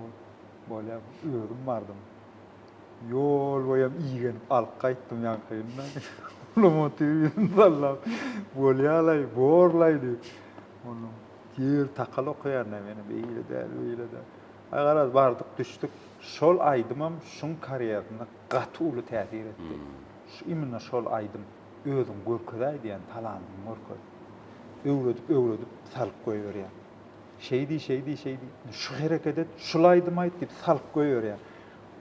Bolýa, özüm bardym. Ýol boýam igenip alyp gaýtdym ýaňkyny-da. Lomotygy ýüzüni sallap, Bolýa-laý, bor-laý diýip. Onnoň ýer takal okaýan-da meni, beýle däl, beýle däl. Aý, garaz, bardyk, düşdük. Şol aýdymam şuň karýerasynda gaty uly täsir etdi. Şu, imенно şol aýdym. özüň görkezäý diýen talanyny görkez. Öwredip öwredip salyp goýberýär. Şeý diý şeý diý şeý diý. Şu hereket et, şul aýdym aýt diýip salyp goýberýär.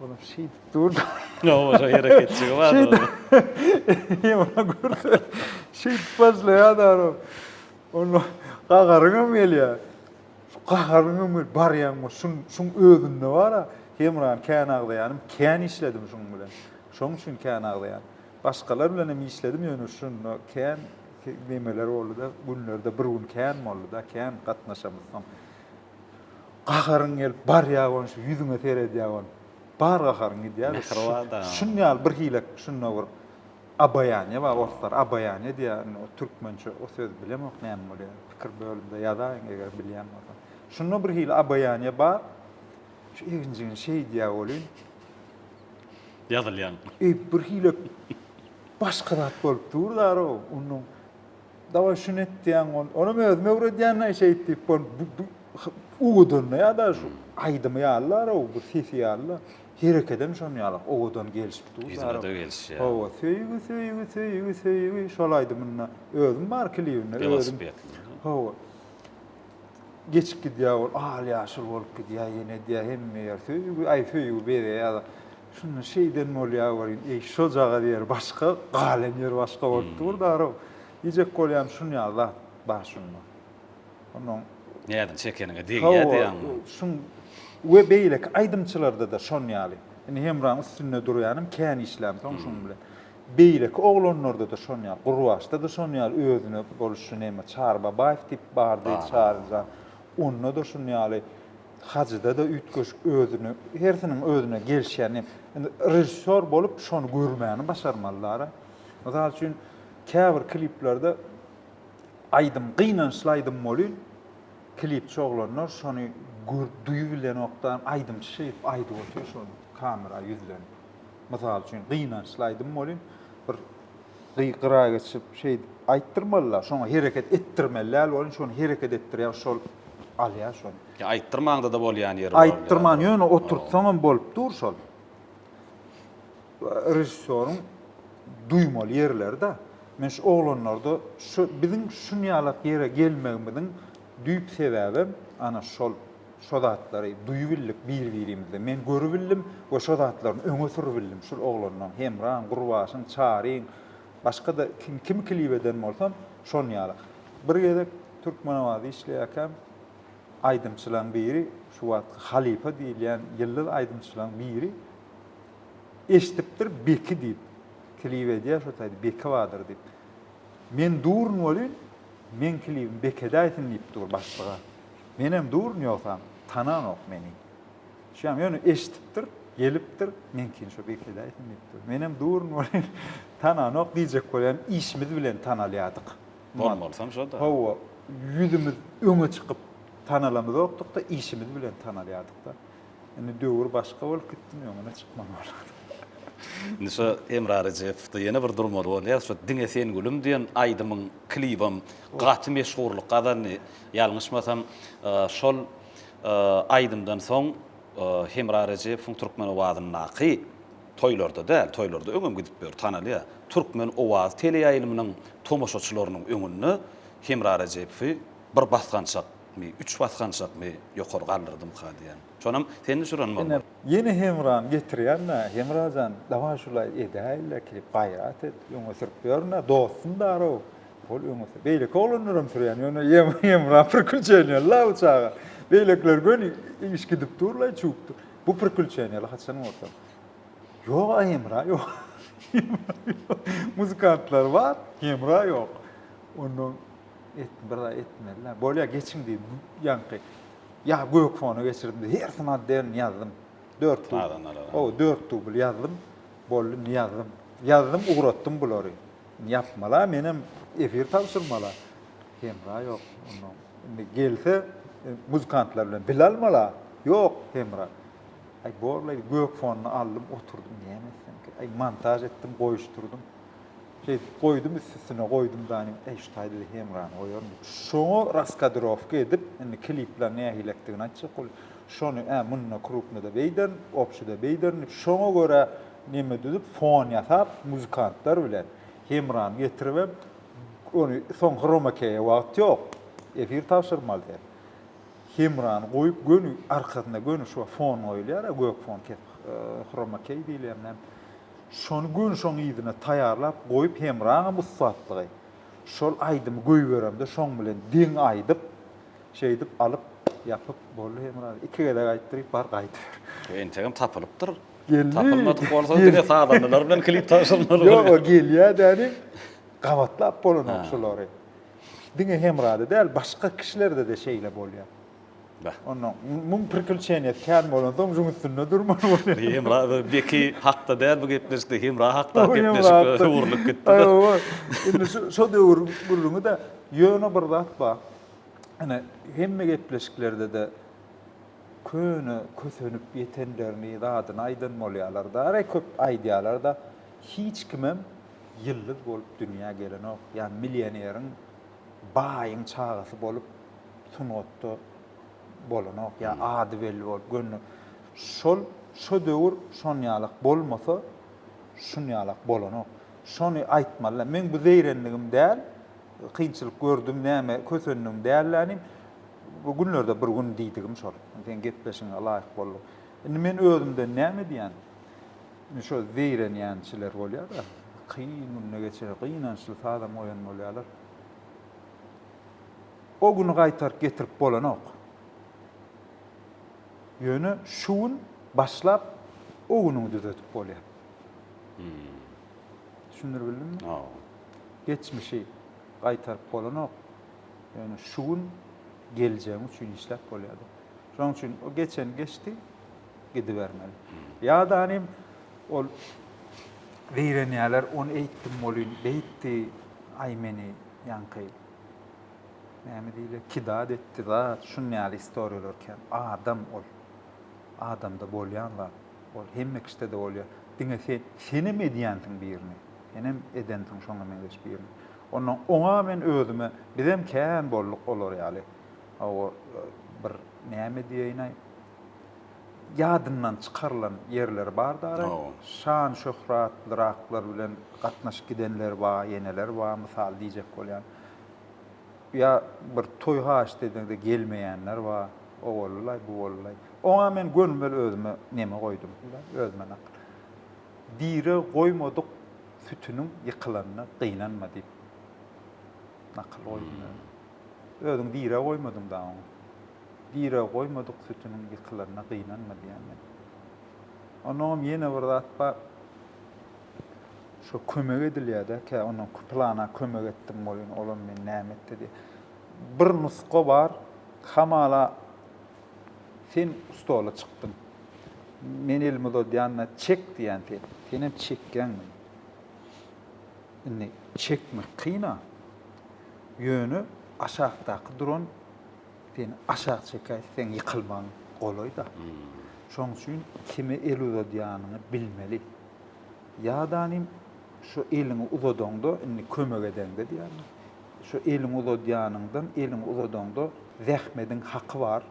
Olam şeýdip dur. Ýok, oşa hereketçigi bar. Şeýdip. Ýa görse. Şeýdip başlaýar daro. Onda gahary hem gelýär. Şu gaharyň hem gelip barýan bu şun şuň özünde bara Hemran kän agzaýanym kän işledim şuň bilen. Şoň üçin kän agzaýan. Başgalar bilen hem işledim ýöne şunda kän nemeler boldy-da, günlerde bir gün kän boldy-da, kän gatnaşamyz soň. Gaharyň gelip barýa gon şu ýüzüňe seredýä gon. Bar gaharyň gidýä. Şun ýaly bir hile şunda bir abaýanýa bar orslar abaýanýa diýä indi o türkmençe o söz bilemok näme bolýa pikir bölümde ýazaýyň eger bilýän bolsaň. Şunda bir hile abaýanýa bar. Şu eginjigini şeýdýä bolýyn. ýazylýan. Eý, birhili başga zat bolup dur-da-row, onuň. Dawaý, şuny et diýýän, ony, onam özüm öwredýän-ä şeýt diýip, ol bu-bu owadan-da ýa-da şu aýdymy ýaly-da-row, bu sesi ýaly-da, herekedem şonuň ýaly owadan gelşip dur-da-row. Ritme-de gelişýär. Hawa, söýgi, söýgi, söýgi, söýgi, şol aýdymynda özüm bar klibinde, özüm. Welosipedli. Hawa. Geçip gidýär ol, al-ýaşyl bolup gidýär, ýene edýär hemme ýer söýgi, aý söýgi bezeýär-de. Şunda şeýden bolýar welin, eý, şojagaz ýeri başga, galan ýeri başga bolup dur-da-row. Diýjek bolýan şuny ýaly zat bar şunda. Onuň. Näzini çekeniňe degýär diýýäňmi? Hawa, şun we beýleki aýdymçylarda-da şon ýaly. Indi Hemraň üstünde durýanym, kän işlämsoň şuň bilen. Beýleki oglanlarda-da şon ýaly, Gurbaçda-da şon ýaly özüne boluş şu näme, Çary Babaýew diýip bar diýdi Çary jan. Onda-da şun ýaly, Hajyda-da üýtgeşik özüne, hersiniň özüne gelşýän ne. Indi režissýor bolup şony görmäni başarmalylar-a. Mysal üçin, käbir kliplerde aýdym, gynançly aýdym bolyn, klipçi oglanlar şony görüp, duýup bilenokdan, aýdymçy şeýdip aýdyp otyr şony, kamera ýüzlenip. Mysal üçin, gynançly aýdym welin, bir gygyra geçip, şeýdip aýtdyrmaly-da, şoňa hereket etdirmeli däl welin, şony hereket etdirýär, şol alýar şony. Ýa aýtdyrmaňda-da bolýan ýeri bar. Aýtdyrman, ýöne oturtsaň hem bolup dur şol. Režissýoryň duýmaly ýerleri-de. Men şu oglanlarda şu biziň şunýalak ýere gelmegimiziň düýp sebäbem ana şol. Şo zatlary duýubildik bir-birimizden. Men görübildim we şo zatlaryny öňe sürübildim. Şul oglanlaň, Hemraň, Gurbaşyň, Çaryň, başga-da kim, kimi klip eden bolsam, şon ýaly. Bir gezek Türkmenabat işleýärkäm, aýdymçylaň biri, şu wagtky halypa diýilýän ýyldyz aýdymçylaň biri eşidipdir Beki diýip, klip edýär şo taýda Beki badyr diýip. Men durun welin, meň klibim Beki edäýsin diýip dur başlyga. Menem duryn ýogsam tananok meni. Şuýam ýöne eşdipdir, gelipdir, meňkin şo birkedäýsin diýipdir. Menem duryn welin tananok diýjek bolýan işimiz bilen tanalýadyk. Bolmalysam şo-da. Hawa, ýüzümiz öňe çykyp tanalamyzokdykda işimiz bilen tanalýadykda. Indi döwür başga bolup gitdimi öňüne çykman bolar. Indi şo Hemra Rejepowda ýene bir durmaly bolýar. Şo Diňe sen gülüm diýen aýdymyň klibem gaty meşhurlyk gazandy. Ýalňyşmasam, şol aýdymdan soň Hemra Rejepowyň Türkmen owazyndaky toýlarda däl, toýlarda öňem gidip ýör, tanalýar. Türkmen owazy teleýaýlymynyň tomaşaçylarynyň öňünde Hemra Rejepowy bir basgançakmy, üç basgançakmy ýokary galdyrdymyka diýýän. Şonam sen düşüren bolmaly. Ýene Hemrany getirýän-ä. Hemra jan, dawaý şulaý edäýin-le, klip gaýrat et, öňe sürüp ýörün-ä, dostum bar-ow. Ol öň bolsa beýleki oglanlaram sürýän, ýöne Ýemran prikülçeniýalla bu çaga. Beýlekiler göni iş gidip durlaý, çüwüp dur. Bu prikülçeniýala haçan bolsa. Ýog, a Ýemra ýok. Muzykantlar bar, Ýemra ýok. Onda etdim, bir zat etmeli-dä. Bolýa, geçiň diýip, ýaňky ýa gök fona geçirdim, hersini adden ýazdym. Dört dubl. O, dört dubl ýazdym. Boldy, indi ýazdym. Ýazdym, ugratdym bulary. Ýapmala menem efir tabşyrmala hemra ýok onda indi gelse muzykantlar bilen dil almala ýok hemra aý borlaý gök fonyny aldym oturdym näme etsem aý montaž etdim goýuşdyrdym şey goýdum üst üstüne goýdum dany aý şu taýda hemrany goýaryn şoňa raskadrowka edip indi klipler nähilekdigini aýtjak bolup şony ä munda krupnoda beýderin obşida beýderin şoňa görä Neme düzüp fon ýasap muzykantlar bilen hemram getiribem ony soň hromakeýe wagt ýok efir tabşyrmaly sen hemrany goýup göni arkasynda göni şu fon goýulýara gök fon kesip hromakeý diýilýär näme şony göni şoň yzyna taýýarlap goýup hemraňam ussatlygy şol aýdymy goýberemde şoň bilen deň aýdyp şeýdip alyp ýapyp boldy hemra iki gezek aýtdyryp bar gaýdyber. Entegem tapylypdyr Geldi. Tapylmadyk bolsa diňe sazandalar bilen klip tabşyrmaly. Ýok, o gelýär däli. Gabatlap bolanok şulary. Diňe Hemrada däl, başga kişilerde de şeýle bolýar. Bäh. Onda muň prikülçeniýet kän bolansoň juň üstünde durmaly bolýar. Hemra beki hakda däl bu gepleşikde, Hemra hakda gepleşik öwrülip gitdi. Aýwa. Indi şu şo döwür gürrüňi-de ýöne bir zat bar. Ine hemme gepleşiklerde-de Köne kösenip ýetenlerini zadyny aýdan bolýalar-da, re köp aýdýalar-da, hiç kimem ýyldyz bolup dünýä gelenok, ýa millioneriň, baýyň çagasy bolup sungatda bolanok, ýa ady belli bolup gönüden. Şol, şo döwür şonýalak bolmasa, şunýalak bolanok. Şony aýtmaly-da. Men bu zeýrenligim däl, kynçylyk gördüm, näme kösendim däl-de inim. Bu günlerde bir gün diýdigim şol. Seň gepleşigiňe laýyk bolduk. Indi men özümden näme edýän? Indi şo zeýrenýänçiler bolýar-da, kyn günde geçirýär, gynançly sazam goýan bolýarlar. O güni gaýtaryp getirip bolanok. Ýöne şu gün başlap o günüňi düzedip bolýar. Düşündiribildimmi? Geçmişi gaýtaryp bolanok. Ýöne şu gün geljegiň üçin işläp bolýardy. Şonuň üçin o geçen geçdi, gidibermeli. Ýa-da hanym ol zeýrenýärler, ony eýtdim welin, beýtdi, aý meni ýaňky näme diýilýär, kidat etdi zat, şuny ýaly istoriýalar kän. Adam ol. Adamda bolýan zat. Ol hemme kişide-de bolýar. Diňe sen, senem edýänsiň birini. Senem edensiň şoňa meňzeş birini. Onda oňa men özüme, bizem kän bolduk olar ýaly. Hawa, bir näme diýeýin-aý, ýadyndan çykarylan ýerleri bar daraý. Şan-şöhratlyraklar bilen gatnaşyp gidenler bar, ýeneler bar, mysal diýjek bolýan. Ýa bir toý haýyşt edende gelmeýänler bar. O boldy-laý, bu boldy-laý. Oňa men gönümel özüme neme goýdum, özüme nakyl. Diri goýmadyk sütüniň ýykylanyna gynanma diýip nakyl goýdum özüm. Özüň diri goýmadyň da oňa. Diri goýmadyk sütüniň ýykylanyna gynanma diýýän men. Onnoňam ýene bir zat bar. Şo kömek edilýär-de, kä onnoň pylana kömek etdim welin, olam meni näme etdi diýýär. Bir nusga bar, hamala, Sen stola çykdyň. Men elimi uzadýan-da, Çek diýýän sen. Senem çekýäňmi? Indi çekmek kyn-a. Ýöne aşakdaky duran seni aşak çekäýse, seň ýykylmagyň golaý-da. Şonuň üçin kime el uzadýanyňy bilmeli. Ýadanym, şo eliňi uzadaňda, indi kömek edeňde diýýärin. Şo eliňi uzadýanyňdan, eliňi uzadaňda zähmediň haky bar.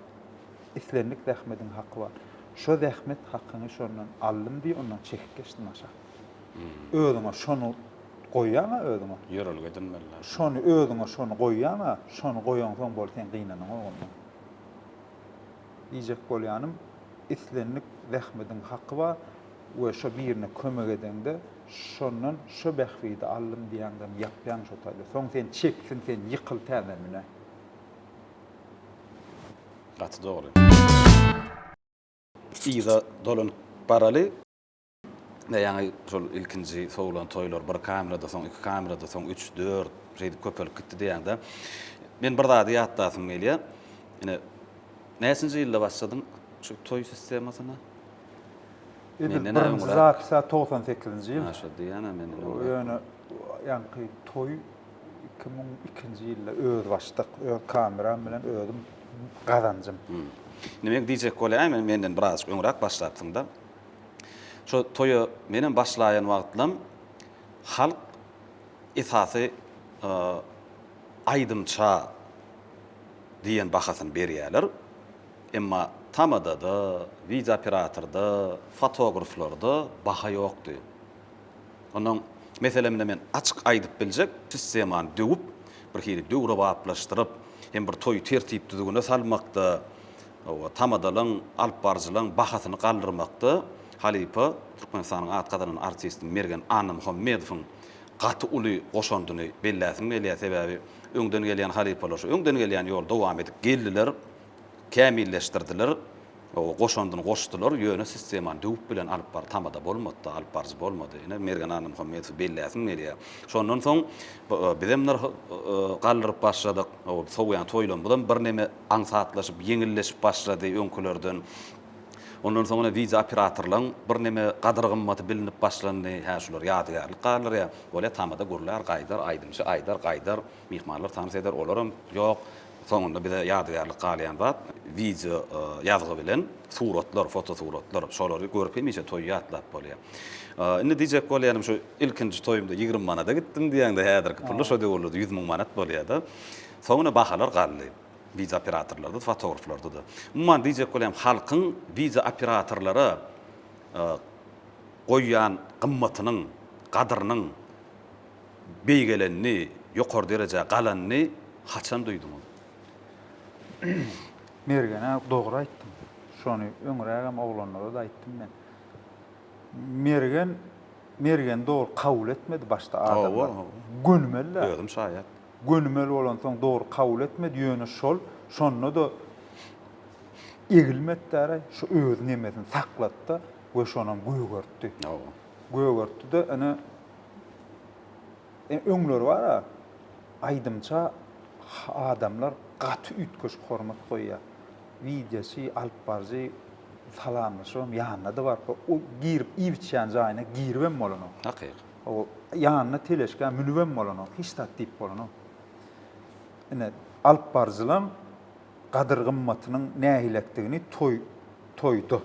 Islendik zähmediň haky bar. Şo zähmet hakyňy şondan aldym diý, ondan çekip geçdim aşak. Özüňe şony goýýaň-a özüňe. Ýörelge edinmeli-dä. Şony özüňe şony goýýaň-a, şony goýaňsoň bol sen gynanaňok ondan. Diýjek bolýanym, islendik zähmediň haky bar. we şo birine kömek edeňde şondan şo bähbidi aldym diýäňdem ýapýaň şo taýda soň sen çeksin sen ýykyl täze mine. Gaty dogry. Yza dolanyp baraly. Ine ýaňy şol ilkinji sowlan toýlar bir kamerada soň iki kamerada soň üç dört şeýdip köpelip gitdi diýäňde men bir zady ýatlasym gelýär. Ine näçinji ýylda başladyň şu toý sistemasyna? Edil birinji zapisa togsan sekizinji ýyl. Maşa diýýän-ä menden öňräk. Ýöne ýaňky toý iki müň ikinji ýylda özbaşdak, öz kameram bilen özüm gazanjym. Neme diýjek bolýaýmany, menden birazajyk öňräk başlapsyň-da. Şo toýa menem başlaýan wagtlam halk esasy aýdymça diýen bahasyny berýärler. Emma tamada-da, wideooperatorda, fotograflarda baha ýokdy. Onnoň, meselem, ine men açyk aýdyp biljek, sistemany döwüp, bir hili döwrebaplaşdyryp hem bir toýy tertip-düzgüne salmakda, hawa, tamadalaň, alypbaryjylaň bahasyny galdyrmakda halypa, Türkmenistanyň at gazanan artisti Mergen Annamuhammedowyň gaty uly goşandyny belläsim gelýär. Sebäbi öňden gelýän halypalar şu öňden gelýän ýoly dowam edip geldiler. kämilleşdirdiler, goşandyny goşdular, ýöne sistemany döwüp bilen alyp bar tamada bolmady-da, alyp baryjy bolmady. Ine, Mergen Annamuhammedowy belläsim gelýär. Şondan soň bizem nyrh galdyryp başladyk. Sowýan toýlarymyzam birneme aňsatlaşyp, ýeňilleşip başlady öňkülerden. Ondan soň ine wideo operatorlaryň birneme gadyr-gymmaty bilinip başlandy. Hä, şular ýadygärlik galdyrýar. Bolýar, tamada gürlär, gaýdar, aýdymçy aýdar, gaýdar, myhmanlar tans eder, olaram ýok. Soňunda bize ýadygärlik galýan zat, wideo ýazgy bilen suratlar, fotosuratlar. Şolary görüp hemişe toýy ýatlap bolýar. Indi diýjek bolýanym şu, ilkinji toýumda ýigrimi manada gitdim diýýäňde, häzirki pulda şo döwürlerde ýüz müň manat bolýar-da. Soňuna bahalar galdy. Wideo operatorlarda-da, fotograflarda-da. Umuman diýjek bolýam, halkyň wideo operatorlara goýýan gymmatynyň, gadyrynyň, beýgelenini, ýokary derejä galanyny haçan duýduňyz? Mergen-ä dogry aýtdyň. Şony öňrägem oglanlara-da aýtdym men. Mergen Mergen dogry kabul etmedi başda adamlar. Gönümel-dä. Özüm şaýat. Gönümel bolansoň dogry kabul etmedi, ýöne şol, şonda-da egilmedi-dä-aý, şu özüniň emesini saklatdy we şonam gögertdi. Gögertdi-de, ine, Ene öňler bar-a, aýdymça adamlar gaty üýtgeşik hormat goýýar. Widýaçy, alyp baryjy salamlaşybam ýanyna-da baryp, o girip iýip-içýän jaýyna giribem bolanok. Hakyk. O ýanyna teleşkä münübem bolanok, hiç zat diýip bolanok. Ine, alyp baryjylaň gadyr-gymmatynyň nähilekdigini toý, toýda.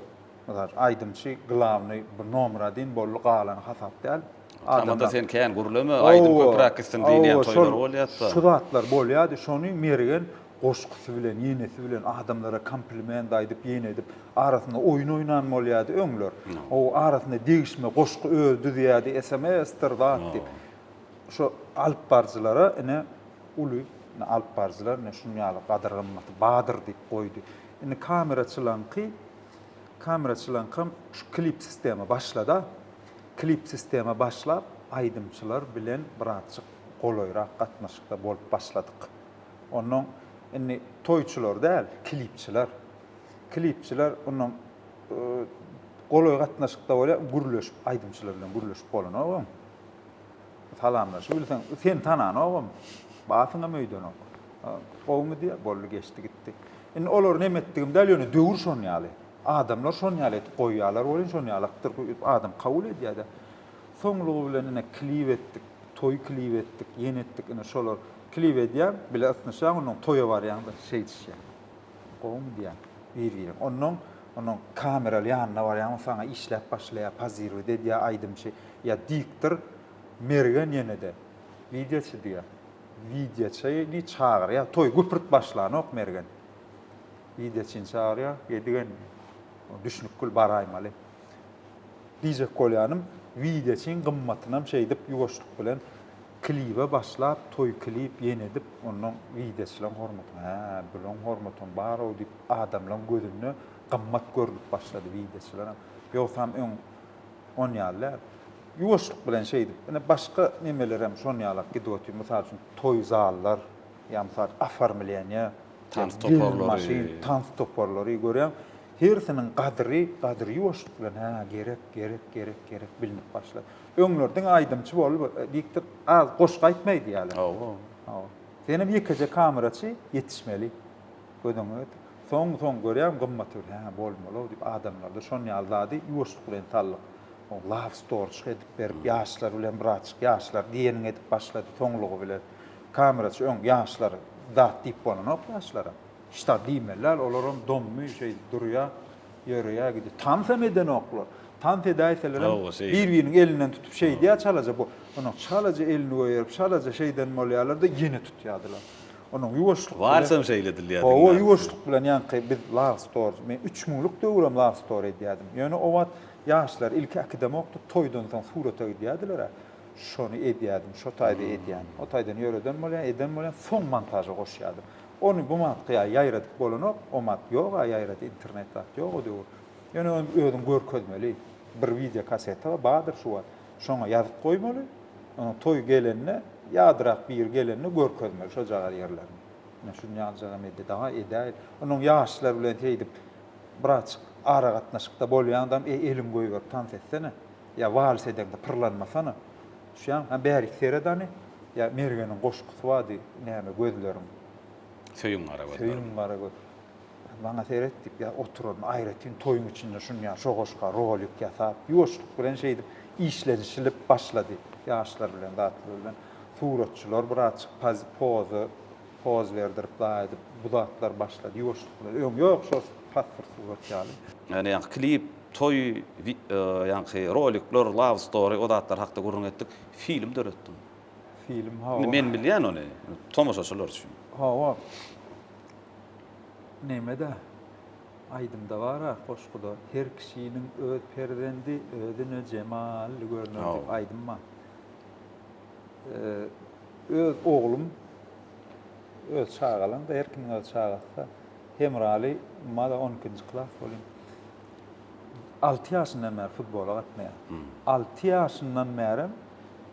Mysal, aýdymçy glawny bu nomera deýin boldy galany hasap däl. Tamada sen kän gürleme, aýdym köpräk gitsin diýilýän toýlar bolýatda. Şu zatlar bolýady, şony Mergen goşgusy bilen, ýenesi bilen adamlara kompliment aýdyp, ýene edip, arasynda oýun oýnan bolýady öňler. O arasynda degişme goşgy özi düzýärdi, sms-dir zat diýip. Şo alyp baryjylara ine uly, ine alyp baryjylar ine şuny ýaly gadyr-gymmaty badyr diýip goýdy. Indi kameraçylaňky, kameraçylaňkam şu klip sistema başlada. Klip sistema başlap, aýdymçylar bilen birazjyk golaýrak gatnaşykda bolup başladyk. Onnoň indi toýçular däl, klipçiler. Klipçiler onnoň golaý gatnaşykda bolýar, gürleşip, aýdymçylar bilen gürleşip bolanok oň. Salamlaşyp bilseň, seni tananogam, batyňam öýdenok. Gowumy diýýär, boldy geçdi gitdi. Indi olary nem etdigim däl, ýöne döwür şon ýaly. Adamlar şon ýaly edip goýýarlar welin, şon ýalykdyr öýdüp adam kabul edýär-de. Soňlugy bilen ine klip etdik, toý klip etdik, ýene etdik, ine şolar. Klip edýäň, bile ysnyşýaň, onnoň toýa barýaň-da şeýdişýäň. Gowumy diýýäň, bir-biriň. Onnoň, onnoň kameraly ýanyna barýaň, ol saňa işläp başlaýar, pozirowat edýär aýdymçy. Ýa diktor Mergen ýene-de, Widýaçy diýýär. Widýaça ýedi çagyrýar. Toý güpürt başlanok Mergen. Widýaçyny çagyrýar. Edigen düşnükgül baraýmaly. Diýjek bolýanym, Widýaçyň gymmatynam şeýdip ýuwaşlyk bilen klibe başlap, toý klip ýene edip, onnoň Widýaçylaň hormatyna, hä, bulaň hormatam bar-ow diýip, adamlaň gözünde gymmat görnüp başlady Widýaçylaram. Ýogsam öň On ýaly däl. Ýuwaşlyk bilen şeýdip, ine, başga nemelerem şon ýalak gidip otyr. Mysal üçin, toý zallar, ýa mysal üçin, oformleniýe, Tans toparlary. Tans toparlary, görýäň, hersiniň gadyry, gadyry ýuwaşlyk bilen, hä, gerek, gerek, gerek, gerek bilinip başlady. Öňler diňe aýdymçy bolup, diktik, az goşgy aýtma aýdýarlar. Hawa. Hawa. Senem ýekeje kameraçy ýetişmeli. Göz öňüňe getir. Soň-soň görýärin gymmaty bir hä bolmaly-ow diýip adamlarda şon ýaly zady ýuwaşlyk bilen saldyk. Ol love storage edip berip ýaşlar bilen birazjyk ýaşlar diýeniňi edip başlady soňlugy bilen. Kameraçy öň ýaşlar zat diýip bolanok ýaşlara. Hiç zat diýmeli däl olaram dommy şeý durýa ýörýä gidýä. Tans hem edenoklar. Tans edäýselerem bir-biriniň elinden tutup şeýdýä çalaja bu. Ony çalaja elini goýberip çalaja şeýden bolýalar-da ýene tutýadylar. Onuň ýuwaşlyk bilen. Warsam şeýle edilýär diňe. Hawa, ýuwaşlyk bilen ýaňky biz Love Story, men üç müňlük döwürem Love Story edýärdim. Ýöne o wagt ýaşlar ilki akademokdy, toýdan soň surata gidýärdiler-ä. Şony edýärdim, şo taýda edýän. O taýdan ýöreden bolýan, eden bolýan, soň montaža goşýardym. Ony bu wagtky ýaly ýaýradyp bolanok, o wagt ýog-a ýaýrady, internet zat ýok o döwür. Ýöne özüň görkezmeli. Bir wideo kassetyga bardyr şu wagt. Şoňa ýazyp goýmaly. Onuň toýy gelende, ýadyrak biri gelende görkezmeli şojagaz ýerlerini. Men şuny aljagam edýä, daga edäýeli. Onuň ýaşlar bilen seýdip birazjyk aragatnaşykda bolýaňdam, eý, eliňi goýberip tans etsene. Ýa wals edeňde pyrlanmasana. Düşýäňmi? Hä, bärik seret hany. Ýa Mergeniň goşgusy bardy, Näme gözleriň. Söýün gara gözleriň. Söýün gara göz. Maňa seret diýip, ýa oturaryn, aýratyn toýuň içinde şuny ýa şo goşga rolik ýasap, ýuwaşlyk bilen şeýdip işlenişilip başlady. Ýaşlar bilen, zatlar bilen. Suratçylar birazjyk poz, poza, poz berdirip, daýy edip, bu zatlar başlady ýuwaşlyk bilen. Öň ýok, şo pasport surat ýaly. Ýöne ýaňky klip, toý, ýaňky rolikler, love story, o zatlar hakda gürrüň etdik. Film döretdim. Film, hawa. Indi men bilýän ony, tomaşaçylar üçin. Hawa. Näme-de, aýdymda bar-a, goşguda, Her kişiniň öz perzendi özüne jemally görner diýip aýdym bar. Öz oglum, öz çagalaň-da, her kimiň öz çagasy-da. Hemraly ma-da on ikinji klas welin, alty ýaşyndan bäri futbola gatnaýar. Alty ýaşyndan bärem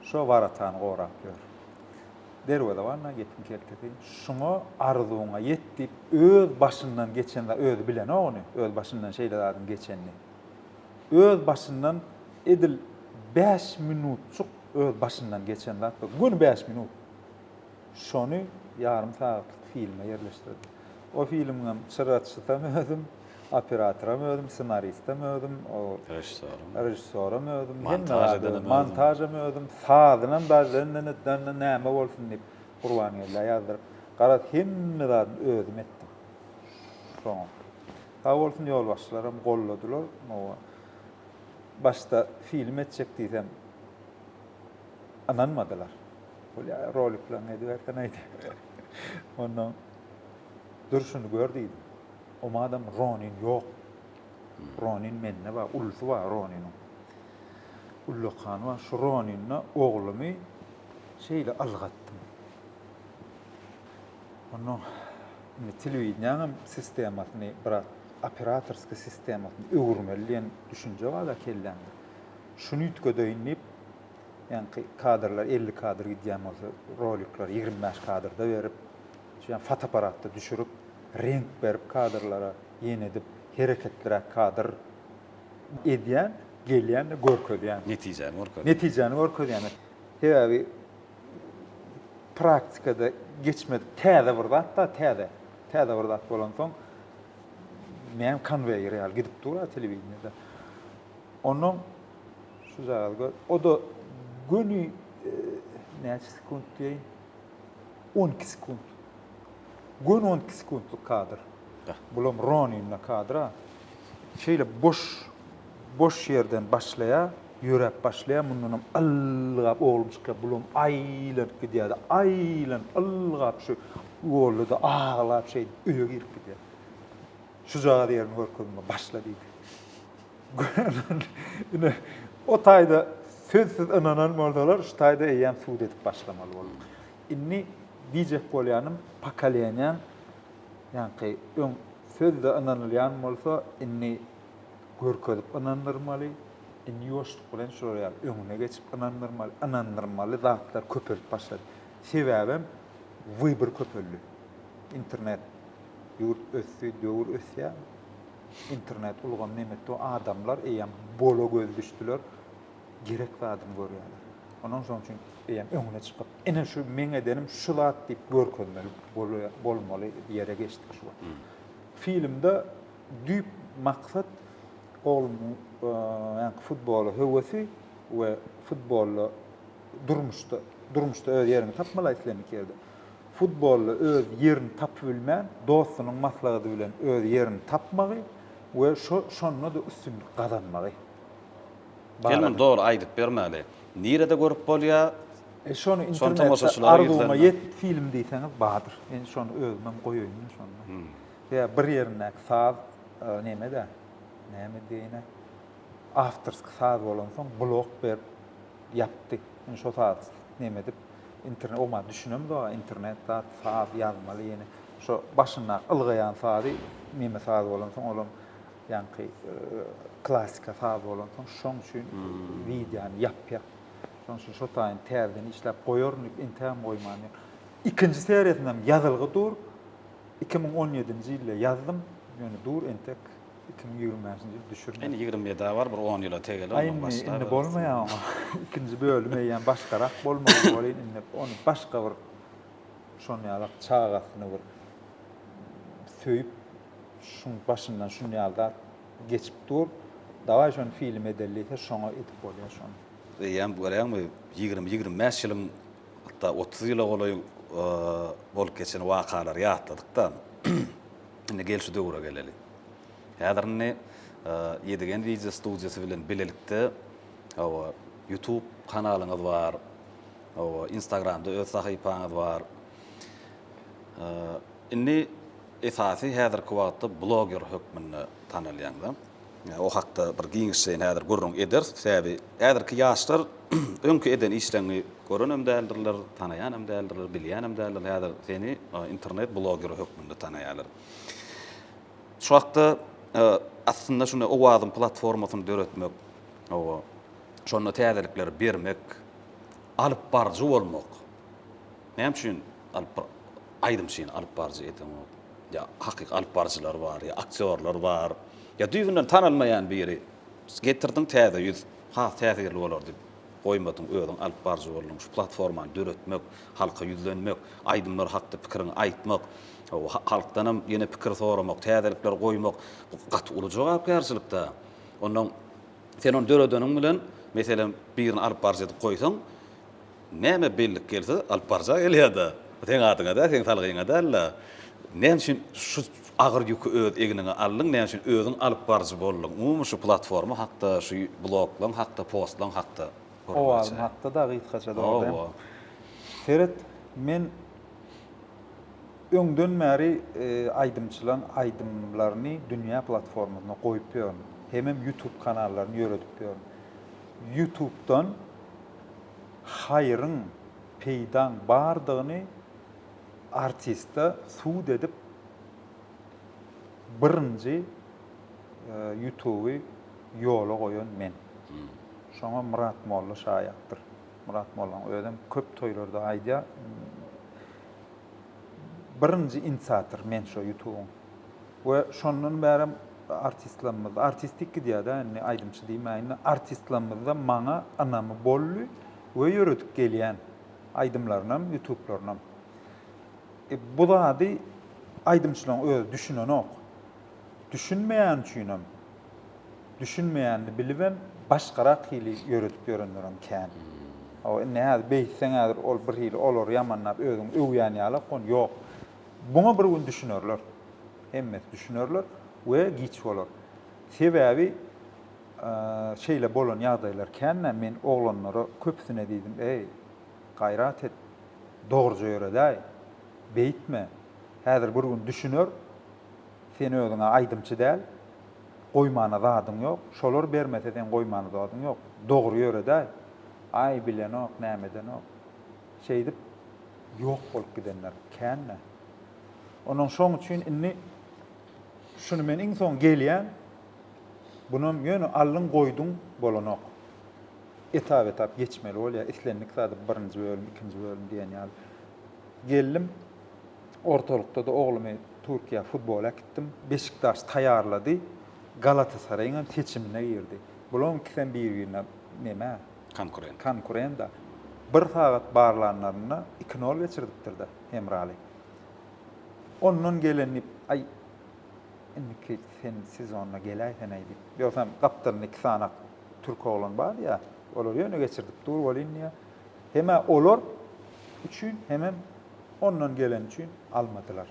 şo waratany gorap ýör. Derwezeban-a gepiň keltesi, şuňa arzuwyňa ýet diýip, öz başyndan geçen zady özi bilenok ony, öz başyndan şeýle zadyň geçenini. Öz başyndan edil bäş minutjyk öz başyndan geçen zat bar. Göni bäş minut. Şony ýarym sagatlyk filme ýerleşdirdi. O filmiňem çyraçysam özüm, operatoram özüm, ssenaristem özüm, režissýoram özüm, hemme zady özüm, montažam özüm, sazynam dajdan-da-da-da näme bolsun diýip, Gurbangellä ýazdyryp, garaz, hemme zadyny özüm etdim. Soňam, sag bolsun, ýolbaşçylaram golladylar. Hawa, başda film etjek diýsem, ynanmadylar. Bolýa, roliklaryňy edibersen aýt. Ondan durşuny gör diýdim. Omadam Ronin ýok. Ronin mende bar, ulusy bar Roniniň. Ullakan bar. Şu Roninle oglumy şeýle ylgatdym. Ondan indi telewideniýäňem sistemasyny biraz operatorskiý sistemasyny öwürmeli diýen düşünje bar-da kellämde. Şuny üýtgedeýin diýip, Ýaňky kadrlar elli kadr gidýän bolsa, rolikleri ýigrimi bäş kadrda berip, şeýle fotoapparatda düşürip, reňk berip kadrlara, ýene edip, hereketliräk kadr edýän, gelýän-de görkezýän. Netijäni görkezýän. Netijäni görkezýän. Sebäbi praktikada geçmedik täze bir zat-da, täze. Täze bir zat bolansoň, näme konweýer ýaly gidip dur-a telewideniýede. Onnoň Şu zady gör. O-da göni näçe sekunt diýeýin? 12 sekunt. Göni 12 sekuntlyk kadr. Bulam Roninna kadra. Şeýle boş boş ýerden başlaýar, ýöräp başlaýar, mundan hem ylgap oglum çykýar, bulam aýlanyp gidýär-de, aýlanyp ylgap şu ýolda-da aglap şeýdip öýe girip gidýär. Şu zady ýerini görkezme, başla diýdi. Ine, o taýda sözsüz ynanan bolsalar, şu taýda eýýäm sud edip başlamaly bolduk. Indi diýjek bolýanym, pokoleniýaň, ýaňky öň sözde ynanylýan bolsa, indi görkezip ynandyrmaly, indi ýuwaşlyk bilen şular ýaly öňüne geçip ynandyrmaly, ynandyrmaly zatlar köpelip başlady. Sebäbem wybor köpeldi. Internet, ýurt ösdi, döwür ösýär. Internet ulgamy nämetdi? Adamlar eýýäm bola göz düşdüler. Gerek zadyny görýärler. Ondan soň üçin eýýäm öňüne çykyp, ine şu meň edenim şu zat diýip görkezmeli bolmaly ýere geçdik şu wagt. Filmde düýp maksat oglumyň futbola höwesi we futbolda durmuşda durmuşda öz ýerini tapmaly aýsylýan iki ýerde. Futbolda öz ýerini tapybilmän, dostunyň maslahady bilen öz ýerini tapmagy we şo şonda-da üstünlik gazanmagy Gel muny dogry aýdyp bermäli. Nirede görüp bolýar? E şony internet Arzuwyma ýet film diýseňiz bardyr. Men şony özümem goýaýyn-da şonda. Ýa bir ýerindäki saz neme-de, näme diýäýine, awtorski saz bolansoň blok berip, Ýapdy. Indi şo zady neme edip, internet, o-ma düşünem zora, internet zat, saz ýazmaly ýene. Şo başyndaky ylgaýan sazy, neme saz bolansoň, olam ýaňky klasika saz bolansoň, şoň üçin wideony ýapýar. Şoň üçin şo taýyny täzeden işläp goýaryn diýip, entägem goýman ýör. Ikinji seriýasynam ýazylgy dur. Iki müň on ýedinji ýylda ýazdym, ýöne dur entek. iki müň ýigrimi bäşinji ýyl düşürme. Indi ýigrimi ýedi-ä bar, bir on ýyla tegeler, ondan Aýn başlar. indi bolmaýar oňa. Ikinji bölüm eýýäm başgarak bolmaly welin indi ony başga bir şon ýalak çagasyny bir söýüp şuň başyndan şun ýaly zat geçip dur. Dawaý şony film edeli diýse şoňa edip bolýar şony. Eýýäm görýäňmi ýigrimi, ýigrimi bäş ýylyň hatda otuz ýyla golaý bolup geçen wakalary ýatladyk-da. Indi gel şu döwüre geleli. Häzir indi Ýedigen wideo studiýasy bilen bilelikde hawa YouTube kanalyňyz bar. Hawa Instagramda öz sahypaňyz bar. Indi esasy häzirki wagtda bloger hökmünde tanalýaňyz. O hakda bir giňişjeýin häzir gürrüň ederis. Sebäbi häzirki ýaşlar öňki eden işleňňi görenem däldirler, tanaýanam däldirler, bilýänem däldirler. Häzir seni internet blogeri hökmünde tanaýarlar. Şu hakda aslynda şunda Owazyň platformasyny döretmek, hawa, şonda täzelikleri bermek, alypbaryjy bolmak. Näme üçin alyp Aýdym üçin alyp baryjy edenok. Ýa hakyky alyp baryjylar bar, ýa aktýorlar bar. Ýa düýbünden tanalmaýan biri. Getirdiň täze ýüz, has täsirli bolar diýip goýmadyň, özüň alyp baryjy bolduň. Şu platformany döretmek, halka ýüzlenmek, aýdymlar hakda pikiriňi aýtmak, halkdanam ýene pikir soramak, täzelikler goýmak, bu gaty uly jogapkärçilik-dä. Onnoň sen ony döredeniň bilen, meselem, birini alyp baryjy edip goýsaň, Näme bellik gelse alyp barjak elýada. Seň adyňa däl, seň salgyňa däl-le. Näme üçin şu agyr ýüki öz egniňe aldyň, näme üçin özüň alyp baryjy bolduň? Umumy şu platforma hakda, şu bloklaň hakda, postlaň hakda gürrüň açaý. Owazym hakda-da gysgaça dogry. Hawa. Seret, men öňden bäri aýdymçylaryň aýdymlaryny dünýä platformasynda goýup ýörün. Hemem ýutub kanallaryny ýöredip ýörün. Ýutubdan. haýryň, peýdaň bardygyny artiste sud edip birinji ýutuby ýola goýan men. Şoňa Myrat molla şaýatdyr. Myrat mollaň özem köp toýlarda aýdýar, birinji inisiator men şo ýutubyň. We şondan bärem artistlarymyzda, artistik gidýär-dä indi, aýdymçy diýmäýin-de, artistlarymyzda maňa ynamy boldy we ýöredip gelýän aýdymlarynam, ýutuplarynyam. E, bu zady aýdymçylaryň özi düşünenok. Düşünmeýäni üçinem, düşünmeýänini bilibem, başgarak hili ýöredip ýörenlerem kän. Hawa, indi häzir beýtseň, häzir ol birhili olary ýamanlap, özüňi öwýän ýalak, ýok. Buňa bir gün düşünerler. Hemmesi düşünerler we giç bolar. Sebäbi şeýle bolan ýagdaýlar kän-ä. Men oglanlara köpüsine diýdim, Eý, gaýrat et, dogruja ýöredäý, beýtme. Häzir bir gün düşüner, sen özüň-ä aýdymçy däl, goýmana zadyň ýok. Şolar bermese, seň goýmana zadyň ýok. Dogry ýöredäý. Aý, bilenok, näme edenok. Şeýdip, ýok bolup gidenler kän-dä. Ondan şoň üçin indi şuny men iň soň gelýän, bunam ýöne aldyň-goýduň bolanok. Etap-etap geçmeli bolýar, islendik zady birinji bölüm, ikinji bölüm diýen ýaly. Geldim, ortalykda-da oglumy Türkiýä futbola äkitdim. Beşiktaş taýýarlady, Galatasaraýyňam seçimine girdi. Bularyň ikisem bir-birine neme, Konkurent. Konkurent-a. Bir sagat barlanlarynda iki nol geçirdipdir-de, Hemraly. Ondan gelen diýip, Aý, indiki sen sezonda geläýsen-aý diýip. Ýogsam gapdalynda iki sanak türk oglan bardy ýa, olar ýöne geçirdip dur welin diýýä. Hem-ä olar üçin, hemem ondan gelen üçin almadylar.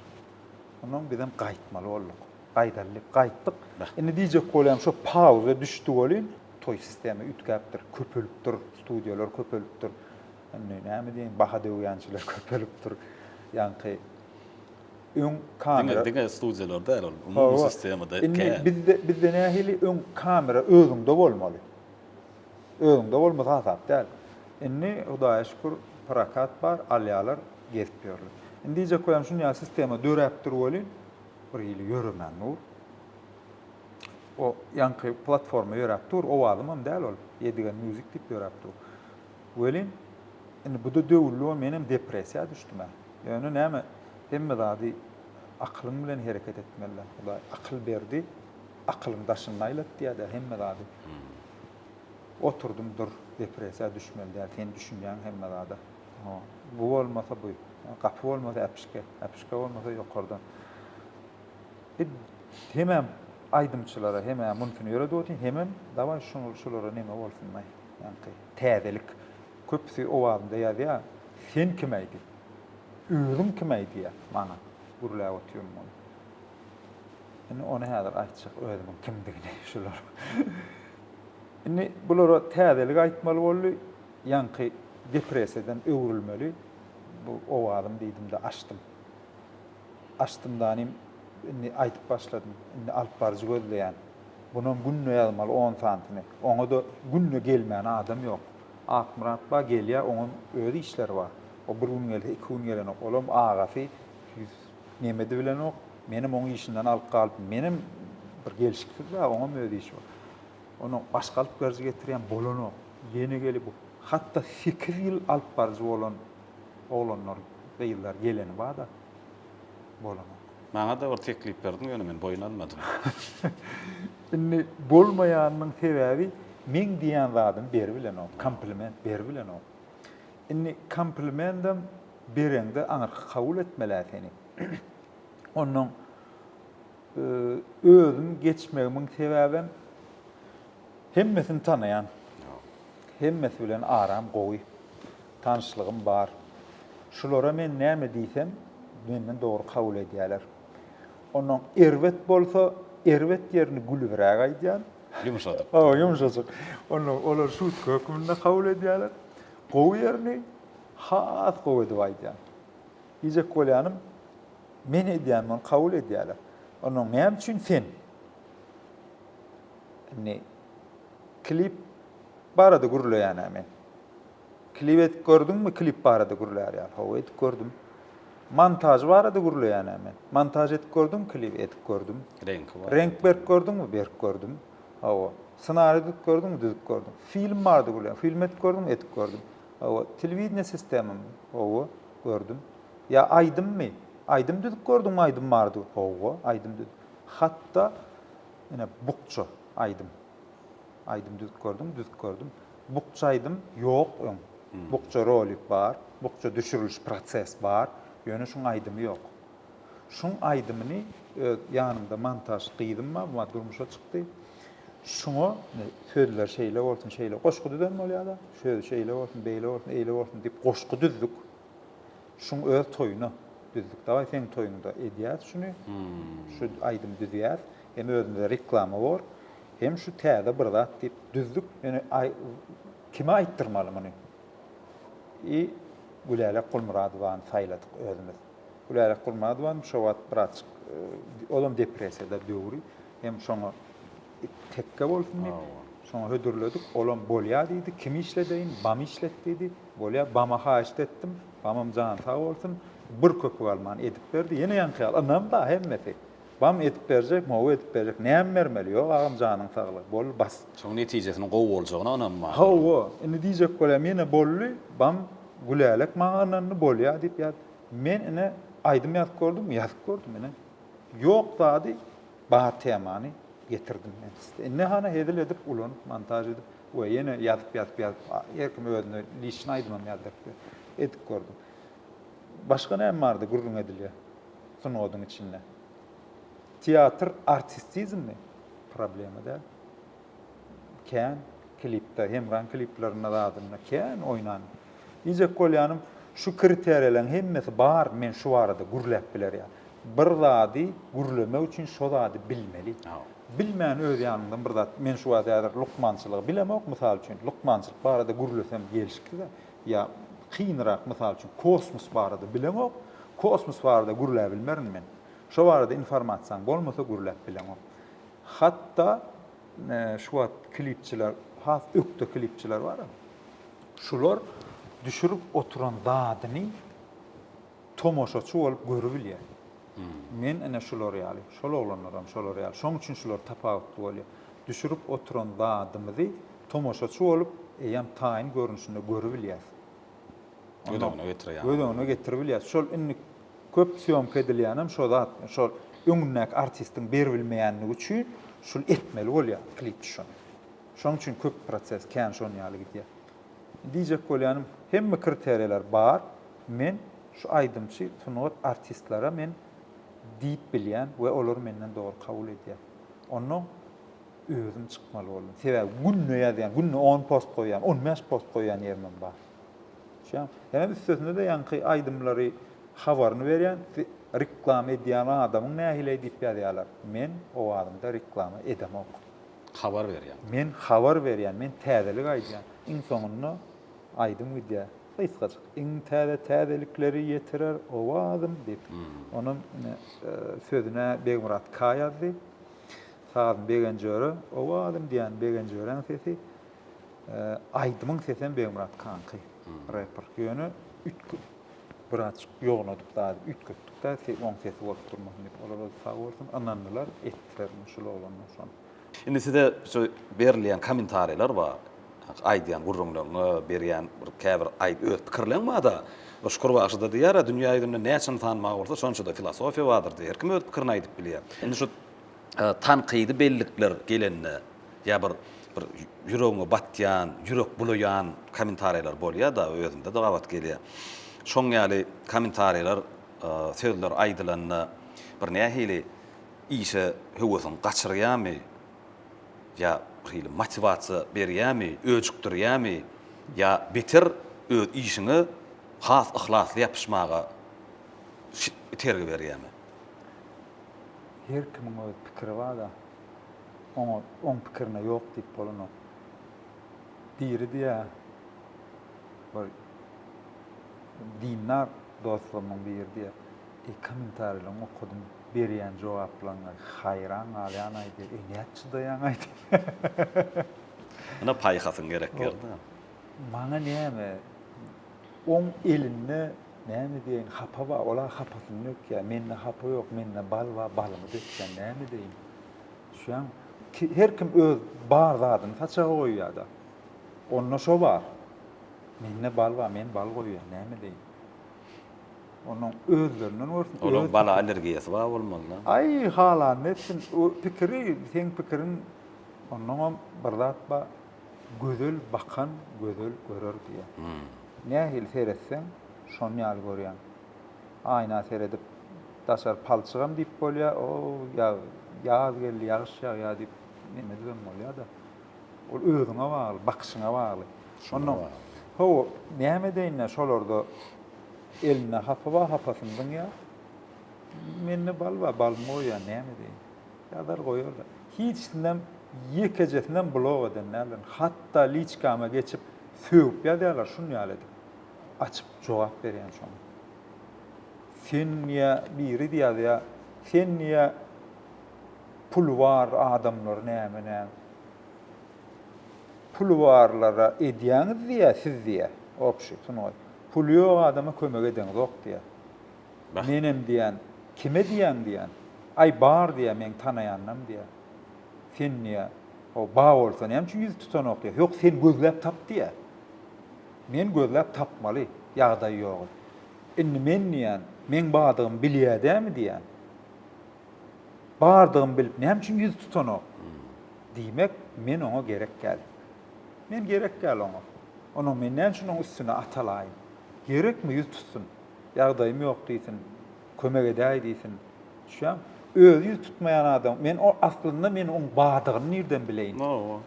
Onsoň bizem gaýtmaly bolduk. Gaýdaly diýip gaýtdyk. Indi diýjek bolýan, şo pauza düşdi welin, toý sistema üýtgäpdir, köpelipdir, studiýalar köpelipdir. Indi näme diýeýin, baha döwýänçiler köpelipdir. Ýaňky öň kamera diňe studiýalar däl ol, umumy sistemada. Indi bizde bizde nähili öň kamera özüňde bolmaly. Özüňde bolmasa hasap däl. Indi Hudaýa şükür prokat bar, alýarlar, gezip ýörler. Indi diýjek bolýan şunýa sistema döräpdir welin, birhili ýöremän dur. O ýaňky platforma ýöräp dur, owazymam däl ol, Edigen Music diýip ýöräp dur. Welin, indi bu-da döwüldi-ow, menem depressiýa düşdüm-ä. Ýöne näme, hemme zady akylyň bilen hereket etmeli-dä. Hudaý akyl berdi, akylyň daşyny aýlat diýýär-dä hemme zady. Oturdym, dur, depressiýa düşmeli däl, sen düşünýäň hemme zada. Bu bolmasa bu, gapy bolmasa äpişge, äpişge bolmasa ýokardan. Biz hemem aýdymçylara hemä muntini öredip otyň hemem dawaý şuňul şulara neme bolsunlaý ýaňky täzelik köpüsi owazynda ýazýa sen kim aýdy özüň kim aýdyýa maňa gürläp otyryn muny indi ony häzir aýtjak özümiň kimdigini şular indi bulara täzelik aýtmaly boldy ýaňky depresiýadan öwrülmeli bu owazym diýdimde açdym. Açdymdanym, indi aýdyp başladym. Indi alypbaryjy gözleýän. Bunam günde ýazmaly on sanysyny. Oňa-da günde gelmän adam ýok. Akmyrat ba gelýär, oňam öz işleri bar. O bir gün gelse, iki gün gelenok. Olam agasy ýüz Memedi bilenok. Menem oň işinden alyp galypdym. Menem bir gelşiksiz bä, oňam öz işi bar. Ondan başga alypbaryjy getirýän bolanok. Ýene gelip, hat-da sekiz ýyl alypbaryjy bolan Oglanlar, gyzlar geleni bada bolanok. Maňa-da bir teklip berdiň, ýöne men boýun almadym. Indi bolmaýanynyň sebäbi meň diýen zadym beribilenok, kompliment beribilenok. Indi komplimentem bereňde aňyrky kabul etmel-ä seni. Onnoň özüm geçmegimiň sebäbem hemmesini tanaýan. Hemmesi bilen aram gowy. Tanyşlygym bar. Şulara men näme diýsem, menden dogry kabul edýäler. Onnoň erbet bolsa, erbet ýerini gülübräk aýdýan. Ýumşajyk. Hawa, ýumşajyk. Onnoň olar şutka hökmünde kabul edýäler. Gowy ýerini has gowy edip aýdýan. Diýjek bolýanym, men edýän muny kabul edýäler. Onnoň näme üçin sen? Indi klip barada gürleýän-ä men. Klip edip gördüňmi klip barada gürlär ýaly hawa edip gördüm. Montaž barada gürleýänä men. Montaž edip gördüňmi klip edip gördüm. Reňki barada. Reňk berip gördüňmi berip gördüm. Hawa. Ssenari düzüp gördüňmi düzüp gördüm. Film barada gürleýän film edip gördüňmi edip gördüm. Hawa. Telewideniýe sistemamy hawa gördüm. Ýa aýdymmy aýdym düzüp gördüňmi aýdym barada hawa aýdym düz hatda ine bukja aýdym aýdym düzüp gördüňmi düzüp gördüm. Bukja aýdym ýok öň. Bukja rolik bar, bukja düşüriliş proses bar, ýöne şuň aýdymy ýok. Şuň aýdymyny öz ýanymda montaž gyzym bar, bu durmuşa çykdy. Şuňa sözler şeýle bolsun, şeýle goşgy düzen bolýada, söz şeýle bolsun, beýle bolsun, eýle bolsun diýip goşgy düzdük. Şuň öz toýuna düzdük dagaý seň toýuňda edýäs şuny şu aýdym düzýäs hem özümize reklama bor hem şu täze bir zat diýip düzdük ýöne aý kime aýtdyrmaly muny i Gülälek Gulmyradowany saýladyk özümiz Gülälek Gulmyradowany şo wagt birazjyk olam depresiýada döwri hem şoňa Tekge bolsun diýip, şoňa hödürledik. Olam bolýa diýdi. Kimi işledeýin? Bamy işlet diýdi. Bolýa. Bama haýyşt etdim. Bamam jany sag bolsun, bir köpük alman edip berdi. Ýene ýaňky ýaly ynam-da hemmesi. Bam edip berjek, mowy edip berjek. Näme bermeli? Ýok, agam, janyň saglygy. Boldy, bas. Şoň netijesiniň gowy boljagyna ynam bar. Hawa, indi diýjek bolýan, ýene boldy. Bam, Gülälek maňa ynandy, bolýa diýip ýaz. Men ine aýdym ýazyp gördüm, ýazyp gördüm ine. Ýok zady Bar temany getirdim men sizde. Indi hany hezil edip ulanyp montaž edip we ýene ýazyp ýazyp ýazyp her kim özüne liçny aýdymam ýazdyrypdy. Edip gördüm. Başga näme bardy gürrüň edilýä sungadyň içinde. Teatr artistizmmi? Problema däl. kän klipde hemraň kliplerinde zadynda kän oýnan diýjek bolýanym şu kriteriýalaň hemmesi bar men şu barada gürläp bilerýa bir zady gürlemek üçin şo zady bilmeli bilmän öz ýanyňdan bir zat men şu wagt häzir lukmançylygy bilemok mysal üçin lukmançylyk barada gürlesem gelşiksize ýa kynrak mysal üçin kosmos barada bilemok kosmos barada gürläbilmerin men şo barada informasiýaň bolmasa gürläp bileňok Hatda şu wagt klipçiler has ökde klipçiler bar. Şular düşürip oturan zadyny tomaşaçy bolup görübilýär. Men ene şular ýaly, şol oglanlaram şolar ýaly. Şoň üçin şular tapawutly bolýar. Düşürip oturan zadymyzy tomaşaçy bolup eýýäm taýyn görnüşinde görübilýäs. göz öňüne getirýär. Göz öňüne getirip bilýär. Şol indi köp sýomka edilýänem şo zat. Şol öňündäki artistiň beribilmeýänligi üçin şul etmeli bolýar klip düşen. Şonuň üçin köp proses kän şon ýaly gidýär. Diýjek bolýanym, hemme kriteriýalar bar. Men şu aýdymçy, sungat artistlere men diýip bilýän we olar menden dogry kabul edýär. Onnoň özüm çykmaly boldum. Sebäbi günde ýazýan, günde on post goýýan, on bäş post goýýan ýerimem bar. Hemem üstesine-de ýaňky aýdymlary habaryny berýän reklama edýän adamyň nähili diýip ýazýarlar. Men owazymda reklama edemok. Habar berýän. Men habar berýän, men täzelik aýdýan. Iň soňunda aýdym gidýär. Gysgajyk. Iň täze täzelikleri ýetirer owazym diýip. Onuň sözüne Begmyrat K ýazdy. Sazyny Begenjöre, owazym diýýän Begenjöräň sesi. Aýdymyň sesem Begmyrat kanky, reper. Ýöne üýtge birazjyk ýognadyp zady üýtgetdik-de, oň sesi bolup durmasyn diýip. Olar welin sag bolsun, ynandylar, etdiler muny şul oglanlar şony. Indi size şu berilýän kommentariýalar bar. Aýdýan gürrüňleriňe, berýän bir käbir aý öz pikirleň bar-da. Şükür bagşy-da diýýär-ä, dünýä ýüzünde näçe ynsan bar bolsa, şonça-da filosofiýa bardyr diýýär. Her kim öz pikirini aýdyp bilýär. Indi şu tankydy bellikler gelende ýa bir bir ýüregiňe batýan, ýürek bulaýan kommentariýalar bolýar-da, özümde-de gabat gelýär. Şoň ýaly kommentariýalar, sözler aýdylanda bir nähili işe höwesiň gaçyrýarmy ýa bir hili motiwasiýa berýärmi, öjükdirýärmi ýa beter öz işiňe has yhlasly ýapyşmaga itergi berýärmi? Her kimiň öz pikiri bada oňa oň pikirine ýok diýip bolanok. Biri diýä bir dindar dostlarymyň biri diýä eý kommentariýalaryňy okadym berýän jogaplaryňa haýran galýanaý diýä eý nädip çydaýaňaý diýä. Ine paýhasyň gerek ýerinde. Maňa näme oň elinde Näme diýeýin, hapa bar, ol-a hapasyny dökýär. Mende hapa ýok, mende bal bar, balymy dökýän, näme edeýin? Düşýäňmi? Ki, her kim öz bar zadyny saçaga goýýar-da. Onda şo bar. Mende bal bar, men bal goýýan, näme edeýin? Onuň özlerinden görsün. Olaň bala allergiýasy bar bolmaly-da. Aý, halanda etsin. O pikiri, seň pikiriň, onnoňam bir zat bar. Gözel bakan gözel görer diýýär. Nähili seretseň, şon ýaly görýäň. Aýna seredip, daşary palçygam diýip bolýar, o-o, ýag, ýaz geldi, ýagyş ýagýar diýip nemedibem bolýar-da. Ol özüňe bagly, bakyşyňa bagly. Şonda, hawa, näme edeýin-ä, şolarda elinde hapa bar, hapasyny zyňýar. Mende bal bar, balymy goýýar, näme edeýin. Ýazar goýarlar. Hiçsinem ýekejesinem blok eden däldirin. Hatda liçkama geçip sögüp ýazýarlar şun ýaly edip. Açyp jogap berýän şoň. Sen ýa biri ýazýa, sen ýa puly bar adamlar näme näme. Puly barlara edýäňiz diýýä siz diýýä. Obşi sungat. Puly ýok adama kömek edeňzok diýýä. Menem diýýän, Kime diýýäň diýýän. Aý, bar diýýä, meň tanaýanynam diýýä. Sen diýýä, Ho, bar bolsa näme üçin ýüz tutanok diýýä. Ýok, sen gözläp tap diýýä. Men gözläp tapmaly, ýagdaý ýogy. Indi men diýýän, meň bardygymy bilýä dämi diýýän. Bardygymy bilip näme üçin ýüz tutanok. Diýmek, men oňa gerek däl. Men gerek däl oňa. Onuň men näme üçin oň üstüne atalaýyn. Gerekmi ýüz tutsun. Ýagdaýym ýok diýsin. Kömek edäý diýsin. Düşýäňmi? Özi ýüz tutmaýan adam. Men o aslynda men oň bardygyny nirden bileýin? Hawa.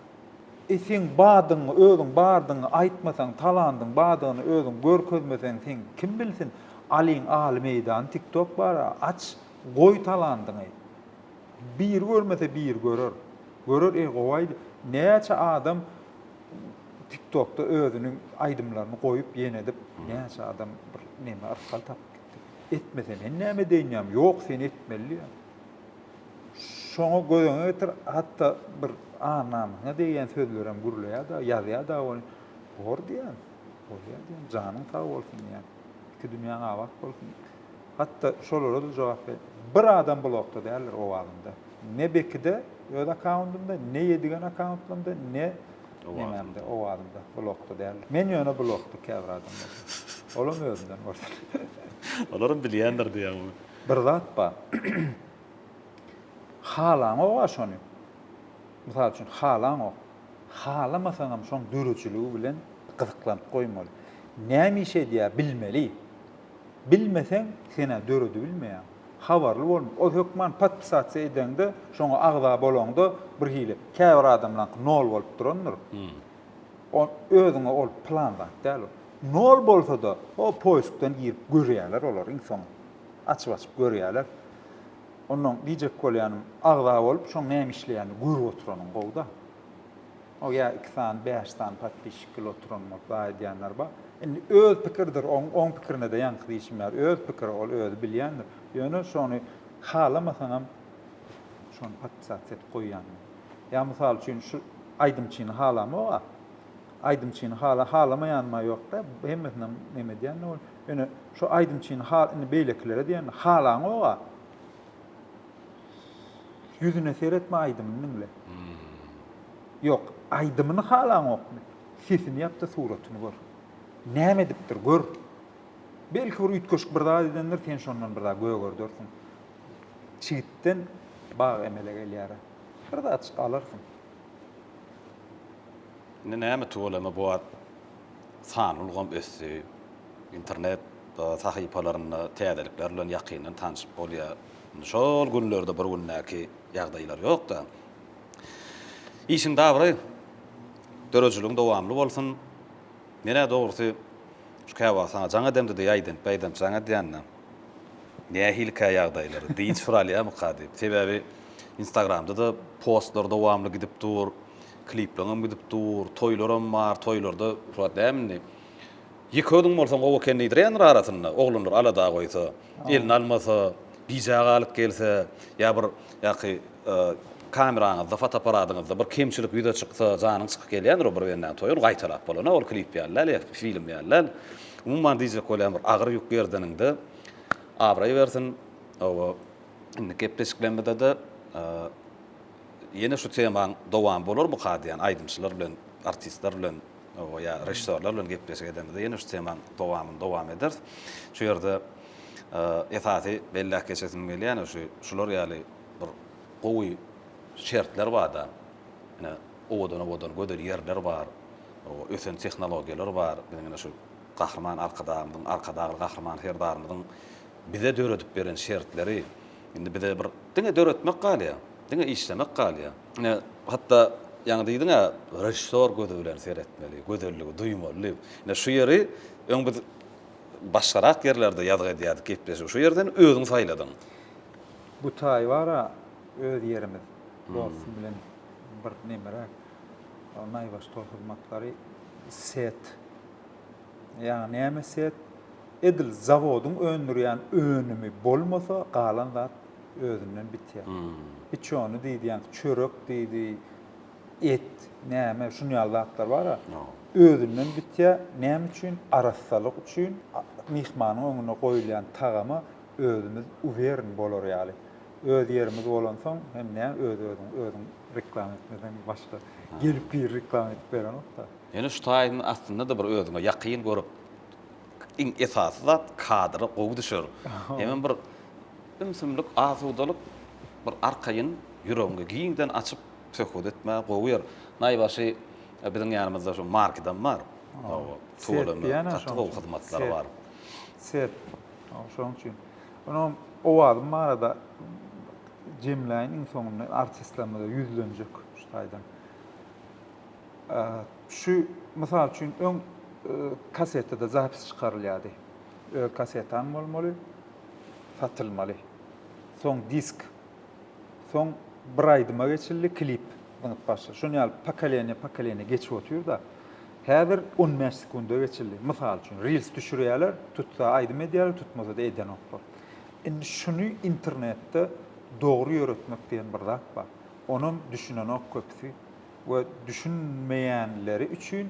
E seň bardygyňy, özüň bardygyňy aýtmasaň, talandyň bardygyny özüň görkezmeseň seň kim bilsin? Alyň aly meýdan tiktok bar-a, aç, goý talandyňy. Biri görmese biri görer. Görer, e gowaýdy. Näçe adam Tiktokda özüniň aýdymlaryny goýup ýene edip näçe adam bir neme arkaly tapyp gitdi. Etmese men näme edeýin ýam ýok sen etmeli diýýän. Şoňa gözeňe getir hatda bir ar namysyňa degýän sözlerem gürleýär dagy ýazýar dagy ony bor diýýän. Bolýar diýýän janyň sag bolsun diýýän. Iki dünýäň abat bolsun. Hatda şolara-da jogap ber. Bir adam blokda däldir owazynda. Ne Bekide öz akkaundynda, ne Ýedigen akkauntlarynda, ne nemämde, owazynda blokda däldir. Men ýöne blokda käbir adamlar. Olam özünden bolsun. Olaram bilýändir diýýäň ony. Bir zat bar. Halaňog-a şony. Mysal üçin, halaňok. Halamasaňam şoň döredijiligi bilen gyzyklanyp goýmaly. Näme iş edýär bilmeli. Bilmeseň senä döredibilmeýär. Habarly bolma. Ol hökman podpisasiýa edeňde, şoňa agza bolaňda birhili, käbir adamlaňky nol bolup durandyr. O özüňe ol plan zat däl ol. Nol bolsa-da, o poiskdan girip görýärler olar iň soňy. Açyp-açyp görýärler. Onnoň diýjek bolýanym, agza bolup, şoň näme işleýänini görüp oturanyň gowy-da. O ýa iki sany bäş sany podpişik bil oturan bol za edýänler bar. Indi öz pikirdir oň oň pikirine de ýaňky diýşim ýaly öz pikiri ol özi bilýändir. Ýöne şony halamasaňam şony podpisat edip goýýan. Ýa mysal üçin şu aýdymçyny halamog-a. Aýdymçyny hala halamaýanyma ýok da hemmesinem neme edýän ol. Ýöne şu aýdymçyny hal indi beýlekilere diýen halaňog-a. Ýüzüne seretme aýdymyny diňle. Ýok, aýdymyny halaňokmy? Sesini ýap-da suratyny gör. Näme edipdir, gör. Belki bir üýtgeşik bir zat edendir, sen şondan bir zat gögerdersiň. Çigitden bag emele gelýär-ä. Bir zat alarsyň. Indi näme tuweleme bu wagt sanly ulgam ösdi. Internet sahypalarynda täzelikler bilen ýakyndan tanşyp bolýar. Şol günlerde bir gündäki ýagdaýlar ýok-da. Işiň dabry, döredijiligiň dowamly bolsun. Men-ä dogrusy, şu käwagt saňa jaň edemde diýip aýdamp, beýdamp jaň edýän-de. Nähilikä ýagdaýlar, dynç suralýarmyka diýip. Sebäbi Instagramda-da postlar dowamly gidip dur, klipleriňem gidip dur, toýlaram bar, toýlarda, Furat dämi indi? Ýeke özüň bolsaň gowy eken diýdirýändir arasynda, oglanlar alada goýsa, elini almasa, gijä galyp gelse, ýa bir ýaky kameraňyzda, fotoapparadyňyzda bir kemçilik ýüze çyksa, janyň çykyp gelýändir o bir bendäniň toýy, ol gaýtalap bolan-a, ol klip ýaly däl, ýa film ýaly däl. Umuman diýjek bolýan bir agyr ýük gerdeniňde abraý bersin. Hawa, indiki gepleşiklerimizde-de ýene şu temaň dowamy bolar bu ka diýýän aýdymçylar bilen, artistler bilen. Oba ýa režissýorlar bilen gepleşik edemizde ýene şu temaň dowamyny dowam ederis. Şu ýerde esasy belläp geçesim gelýäni şu şular ýaly bir gowy şertler barda ine owadan owadan gözel ýerler bar. Oba ösen tehnologiýalar bar. Biziň ine şu Gahryman Arkadagymyzyň Arkadagly Gahryman Serdarymyzyň bize döredip beren şertleri indi bize bir diňe döretmek galýa. Diňe işlemek galýa. Ine, hatda ýaňy diýdiň-ä, režissýor gözi bilen seretmeli, gözelligi duýmaly diýip. Ine, şu ýeri öň biz başgarak ýerlerde ýazgy edýärdik, gepleşigi şu ýerden özüň saýladyň. Bu taýy bar-a, öz ýerimiz, dostum bilen bir nemeräk, naýbaşy tolhyzmatlary, set. Ýa näme set? Edil zawodyň öndürýän önümi bolmasa galan zat özünden bitýär. Piçony diýýäňiz, çörek diýdi, et, näme, şuny ýaly zatlar bar-a. Özünden bitýär. Näme üçin? Arassalyk üçin. Myhmanyň öňüne goýulýan tagama özümiz uwern bolar ýaly. Öz ýerimiz bolansoň hem nä öz-özüňi özüň reklama etmesen başga gelip biri reklama edip berenok-da. Ýöne şu taýyň astynda-da bir özüňe ýakyn görüp, iň esasy zat kadra gowy düşer. Hemem bir ümsümlik, asudalyk, bir arkaýyn, ýüregiňi giňden açyp söhbet etmäge gowy ýer. Naýbaşy biziň ýanymyzda şu markidam bar. Tuweleme gaty gowy hyzmatlary bar. Set. Şonuň üçin. Ony owazym barada jemläýin iň soňunda artistlerimize ýüzlenjek şu taýdan. Şu, mysal üçin, öň kasetada zapis çykarylýardy. Öz kasetaň bolmaly, satylmaly. Soň disk. Soň bir aýdyma geçildi, klip zyňyp başla. Şuny ýaly pokoleniýa pokoleniýa geçip otyr-da. Häzir on bäş sekunda geçildi. Mysal üçin, reels düşürýärler, tutsa aýdym edýärler, tutmasa-da edenoklar. Indi şuny internetde dogry ýöretmek diýen bir zat bar. Onam düşünenok köpüsi. we düşünmeýänleri üçin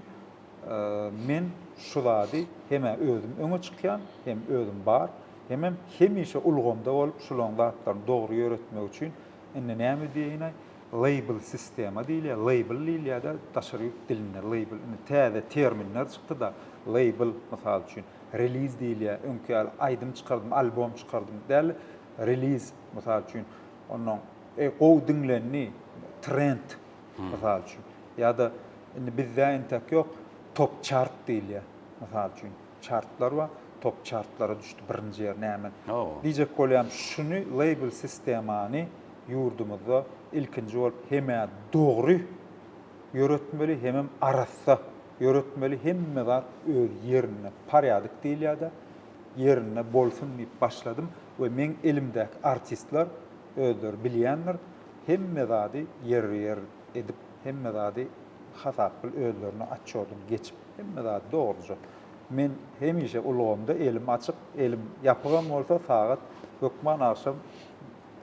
men şu zady hem-ä özüm öňe çykýan, hem özüm bar, hemem hemişe ulgamda bolup şularyň zatlaryny dogry ýöretmek üçin indi näme diýeýin-aý, label sistema diýilýär, label diýilýär-de daşary ýurt dilinde, label indi täze terminler çykdy-da, label mysal üçin, reliz diýilýär, öňki ýaly aýdym çykardym, albom çykardym däl-de, reliz mysal üçin, Onnoň e gowy diňlendi trend mysal üçin ýa-da indi bizde entek ýok top çart diýilýär mysal üçin çartlar bar top çartlara düşdi birinji ýer näme diýjek bolýam şuny label sistemany ýurdumyzda ilkinji bolup hemä dogry ýöretmeli hemem arassa ýöretmeli hemme zat öz ýerinde parýadyk diýilýädä ýerinde bolsun diýip başladym we meň elimdäki artistler özleri bilýändir hemme zady ýerbe ýer edip hemme zady hasap bil özlerine otçodyny geçip hemme zady dogruja men hemişe ulgamda elim açyk elim ýapygam bolsa sagat hökman agşam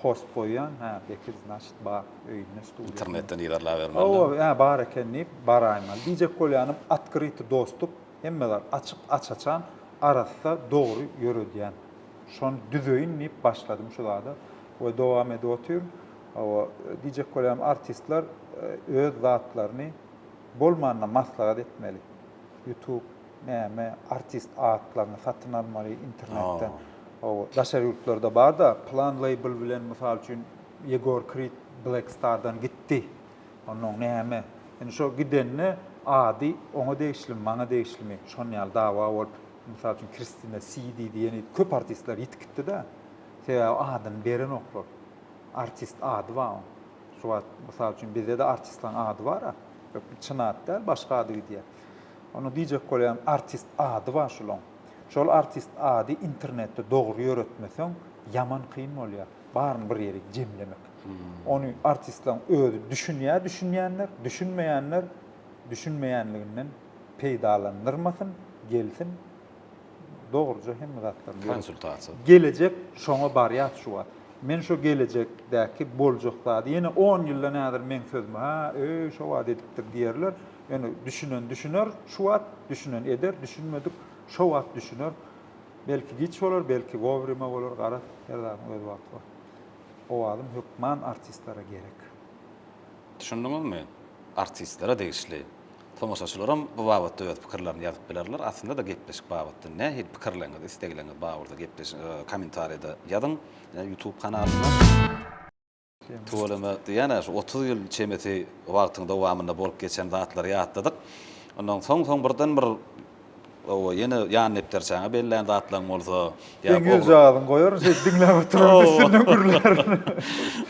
post goýýan hä Bekir znaçit bar öýünde studiýasynda internetden yzarlabermeli hawa hä bar eken diýip baraýmaly diýjek bolýanym otkryty dostup. Hemme zat açyk, aç-açan, arassa, dogry ýöredýän. Şony düzeýin diýip başladym şu zada we dowam edip otyryn. Hawa, diýjek bolýarym, artistler öz zatlaryny bolmanda maslahat etmeli. Ýutub, näme, artist atlaryny satyn almaly internetden. Hawa, daşary ýurtlarda bar-da, plan label bilen, mysal üçin, Ýegor Krid Black Star-dan gitdi. Onnoň näme? Indi şo gidende ady oňa degişlimi, maňa degişlimi, şon ýaly dawa bolup, mysal üçin Kristina Si diýdi, ýene diýdi. Köp artistler ýitip gitdi-de. Sebäbi adyny berenoklar. Artist ady bar oň. Şu wagt, mysal üçin, bizde-de artistlaň ady bar-a. Ýok, bu çyn at däl, başga ady gidýär. Onda diýjek bolýan, artist ady bar şolaň. Şol artist ady internetde dogry ýöretmeseň, ýaman kyn bolýar. Baryny bir ýerik jemlemek. Ony artistlaň özi düşünýär düşünýänler, düşünmeýänler düşünmeýänliginden peýdalandyrmasyn, gelsin dogruja hemme zatlaryny ýöretsin. Konsultasiýa. Gelejek şoňa barýas şu wagt. Men şo gelejekdäki boljak zady ýene on ýylda näder meň sözümi ha öý şo wagt edipdir diýerler. Ýöne düşünen düşüner şu wagt, düşünen eder, düşünmedik şo wagt düşüner. Belki giç bolar, belki wowrýma bolar garaz her zadyň öz wagty bar. Owazym hökman artistlere gerek. Düşündiňizmi? Artistlere degişli. Tomaşaçylaram bu babatda öz pikirlerini ýazyp bilerler. Aslynda-da gepleşik babatda nähili pikirleriňiz, isleglerňiz bar bolsa gepleş komentarýada ýazyň YouTube kanalynda. Tüweleme diýýän-ä şu otuz ýyl çemesi wagtyň dowamynda bolup geçen zatlary ýatladyk. Ondan soň soň birden bir Hawa, ýene ýan depderçäňe bellän zatlaň bolsa, ýa Seň ogl ýüzjagazyň goýaryn şeýdip diňläp oturan üstünden gürlärin.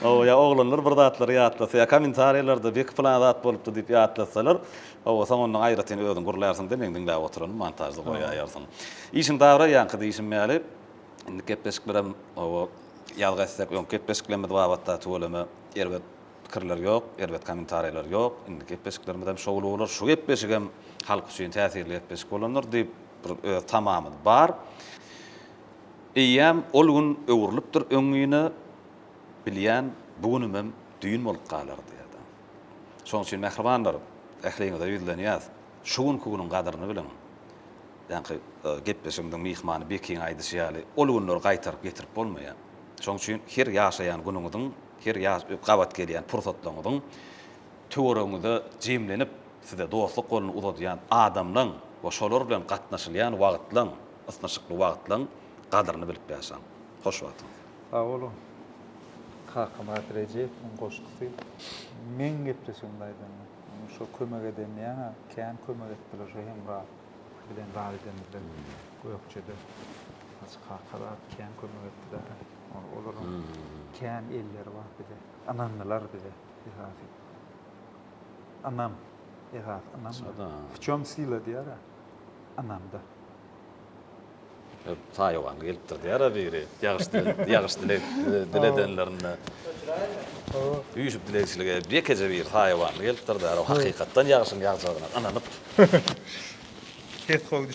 Hawa, ýa oglanlar bir zatlary ýatlasa, ýa kommentariýalarda beki pylan zat bolupdy diýip ýatlatsalar, hawa, soň ondan aýratyn özüň gürlärsiň-de, meň diňläp oturanym montažda goýaýarsyň. Işiň dabra ýaňky diýşim ýaly, indiki gepleşiklerem, hawa, ýazga etsek, öňki gepleşiklerimiz babatda tüweleme erbet. Pikirler ýok, erbet kommentariýalar ýok, indiki gepleşiklerimiz hem şowly bolar, şu gepleşik hem halk üçin täsirli gepleşik bolandyr diýip bir öz tamamyz bar. Eýýäm ol gün öwrülipdir öňňine, bilýän bu günümem düýn bolup galar diýýärdi. Şonuň üçin mähribanlar, ähliňize ýüzlenýäs, şu günki günüň gadyryny biliň. Ýaňky gepleşigimiziň myhmany Bekiň aýdyşy ýaly, ol günleri gaýtaryp getirip bolmaýar. Şonuň üçin her ýaşaýan günüňiziň Her ýaz gabat gelýän pursatlaryňyzyň töweregiňizde jemlenip, size dostluk goluny uzadýan adamlaryň we şolar bilen gatnaşylýan wagtlaryň, ysnyşykly wagtlaryň gadyryny bilip ýaşaň. Hoş wagtyňyz! Sag boluň! Kakamyrat Rejeýewiň goşgusy. Meň gepleşigimde aýdanda, ony şo kömek eden diýýän-ä, kän kömek etdiler şo Hemra bilen zat edemizde, Gökjede. Hajy kaka zat kän kömek etdiler-ä. Olaryň kän elleri bar bize. Ynandylar bize esasy. Ynam, esasy ynam. Şada. W çem sila diýer-ä. Ynamda. Taýwanda gelipdir diýer-ä biri. Ýagyş dilek, ýagyş dilek diledenlerinde. Üýşüp dilegçilik edip, ýekeje biri taýwanda gelipdir diýer. O hakykatdan ýagşyň ýagjagyna ynanyp. Ses gowy.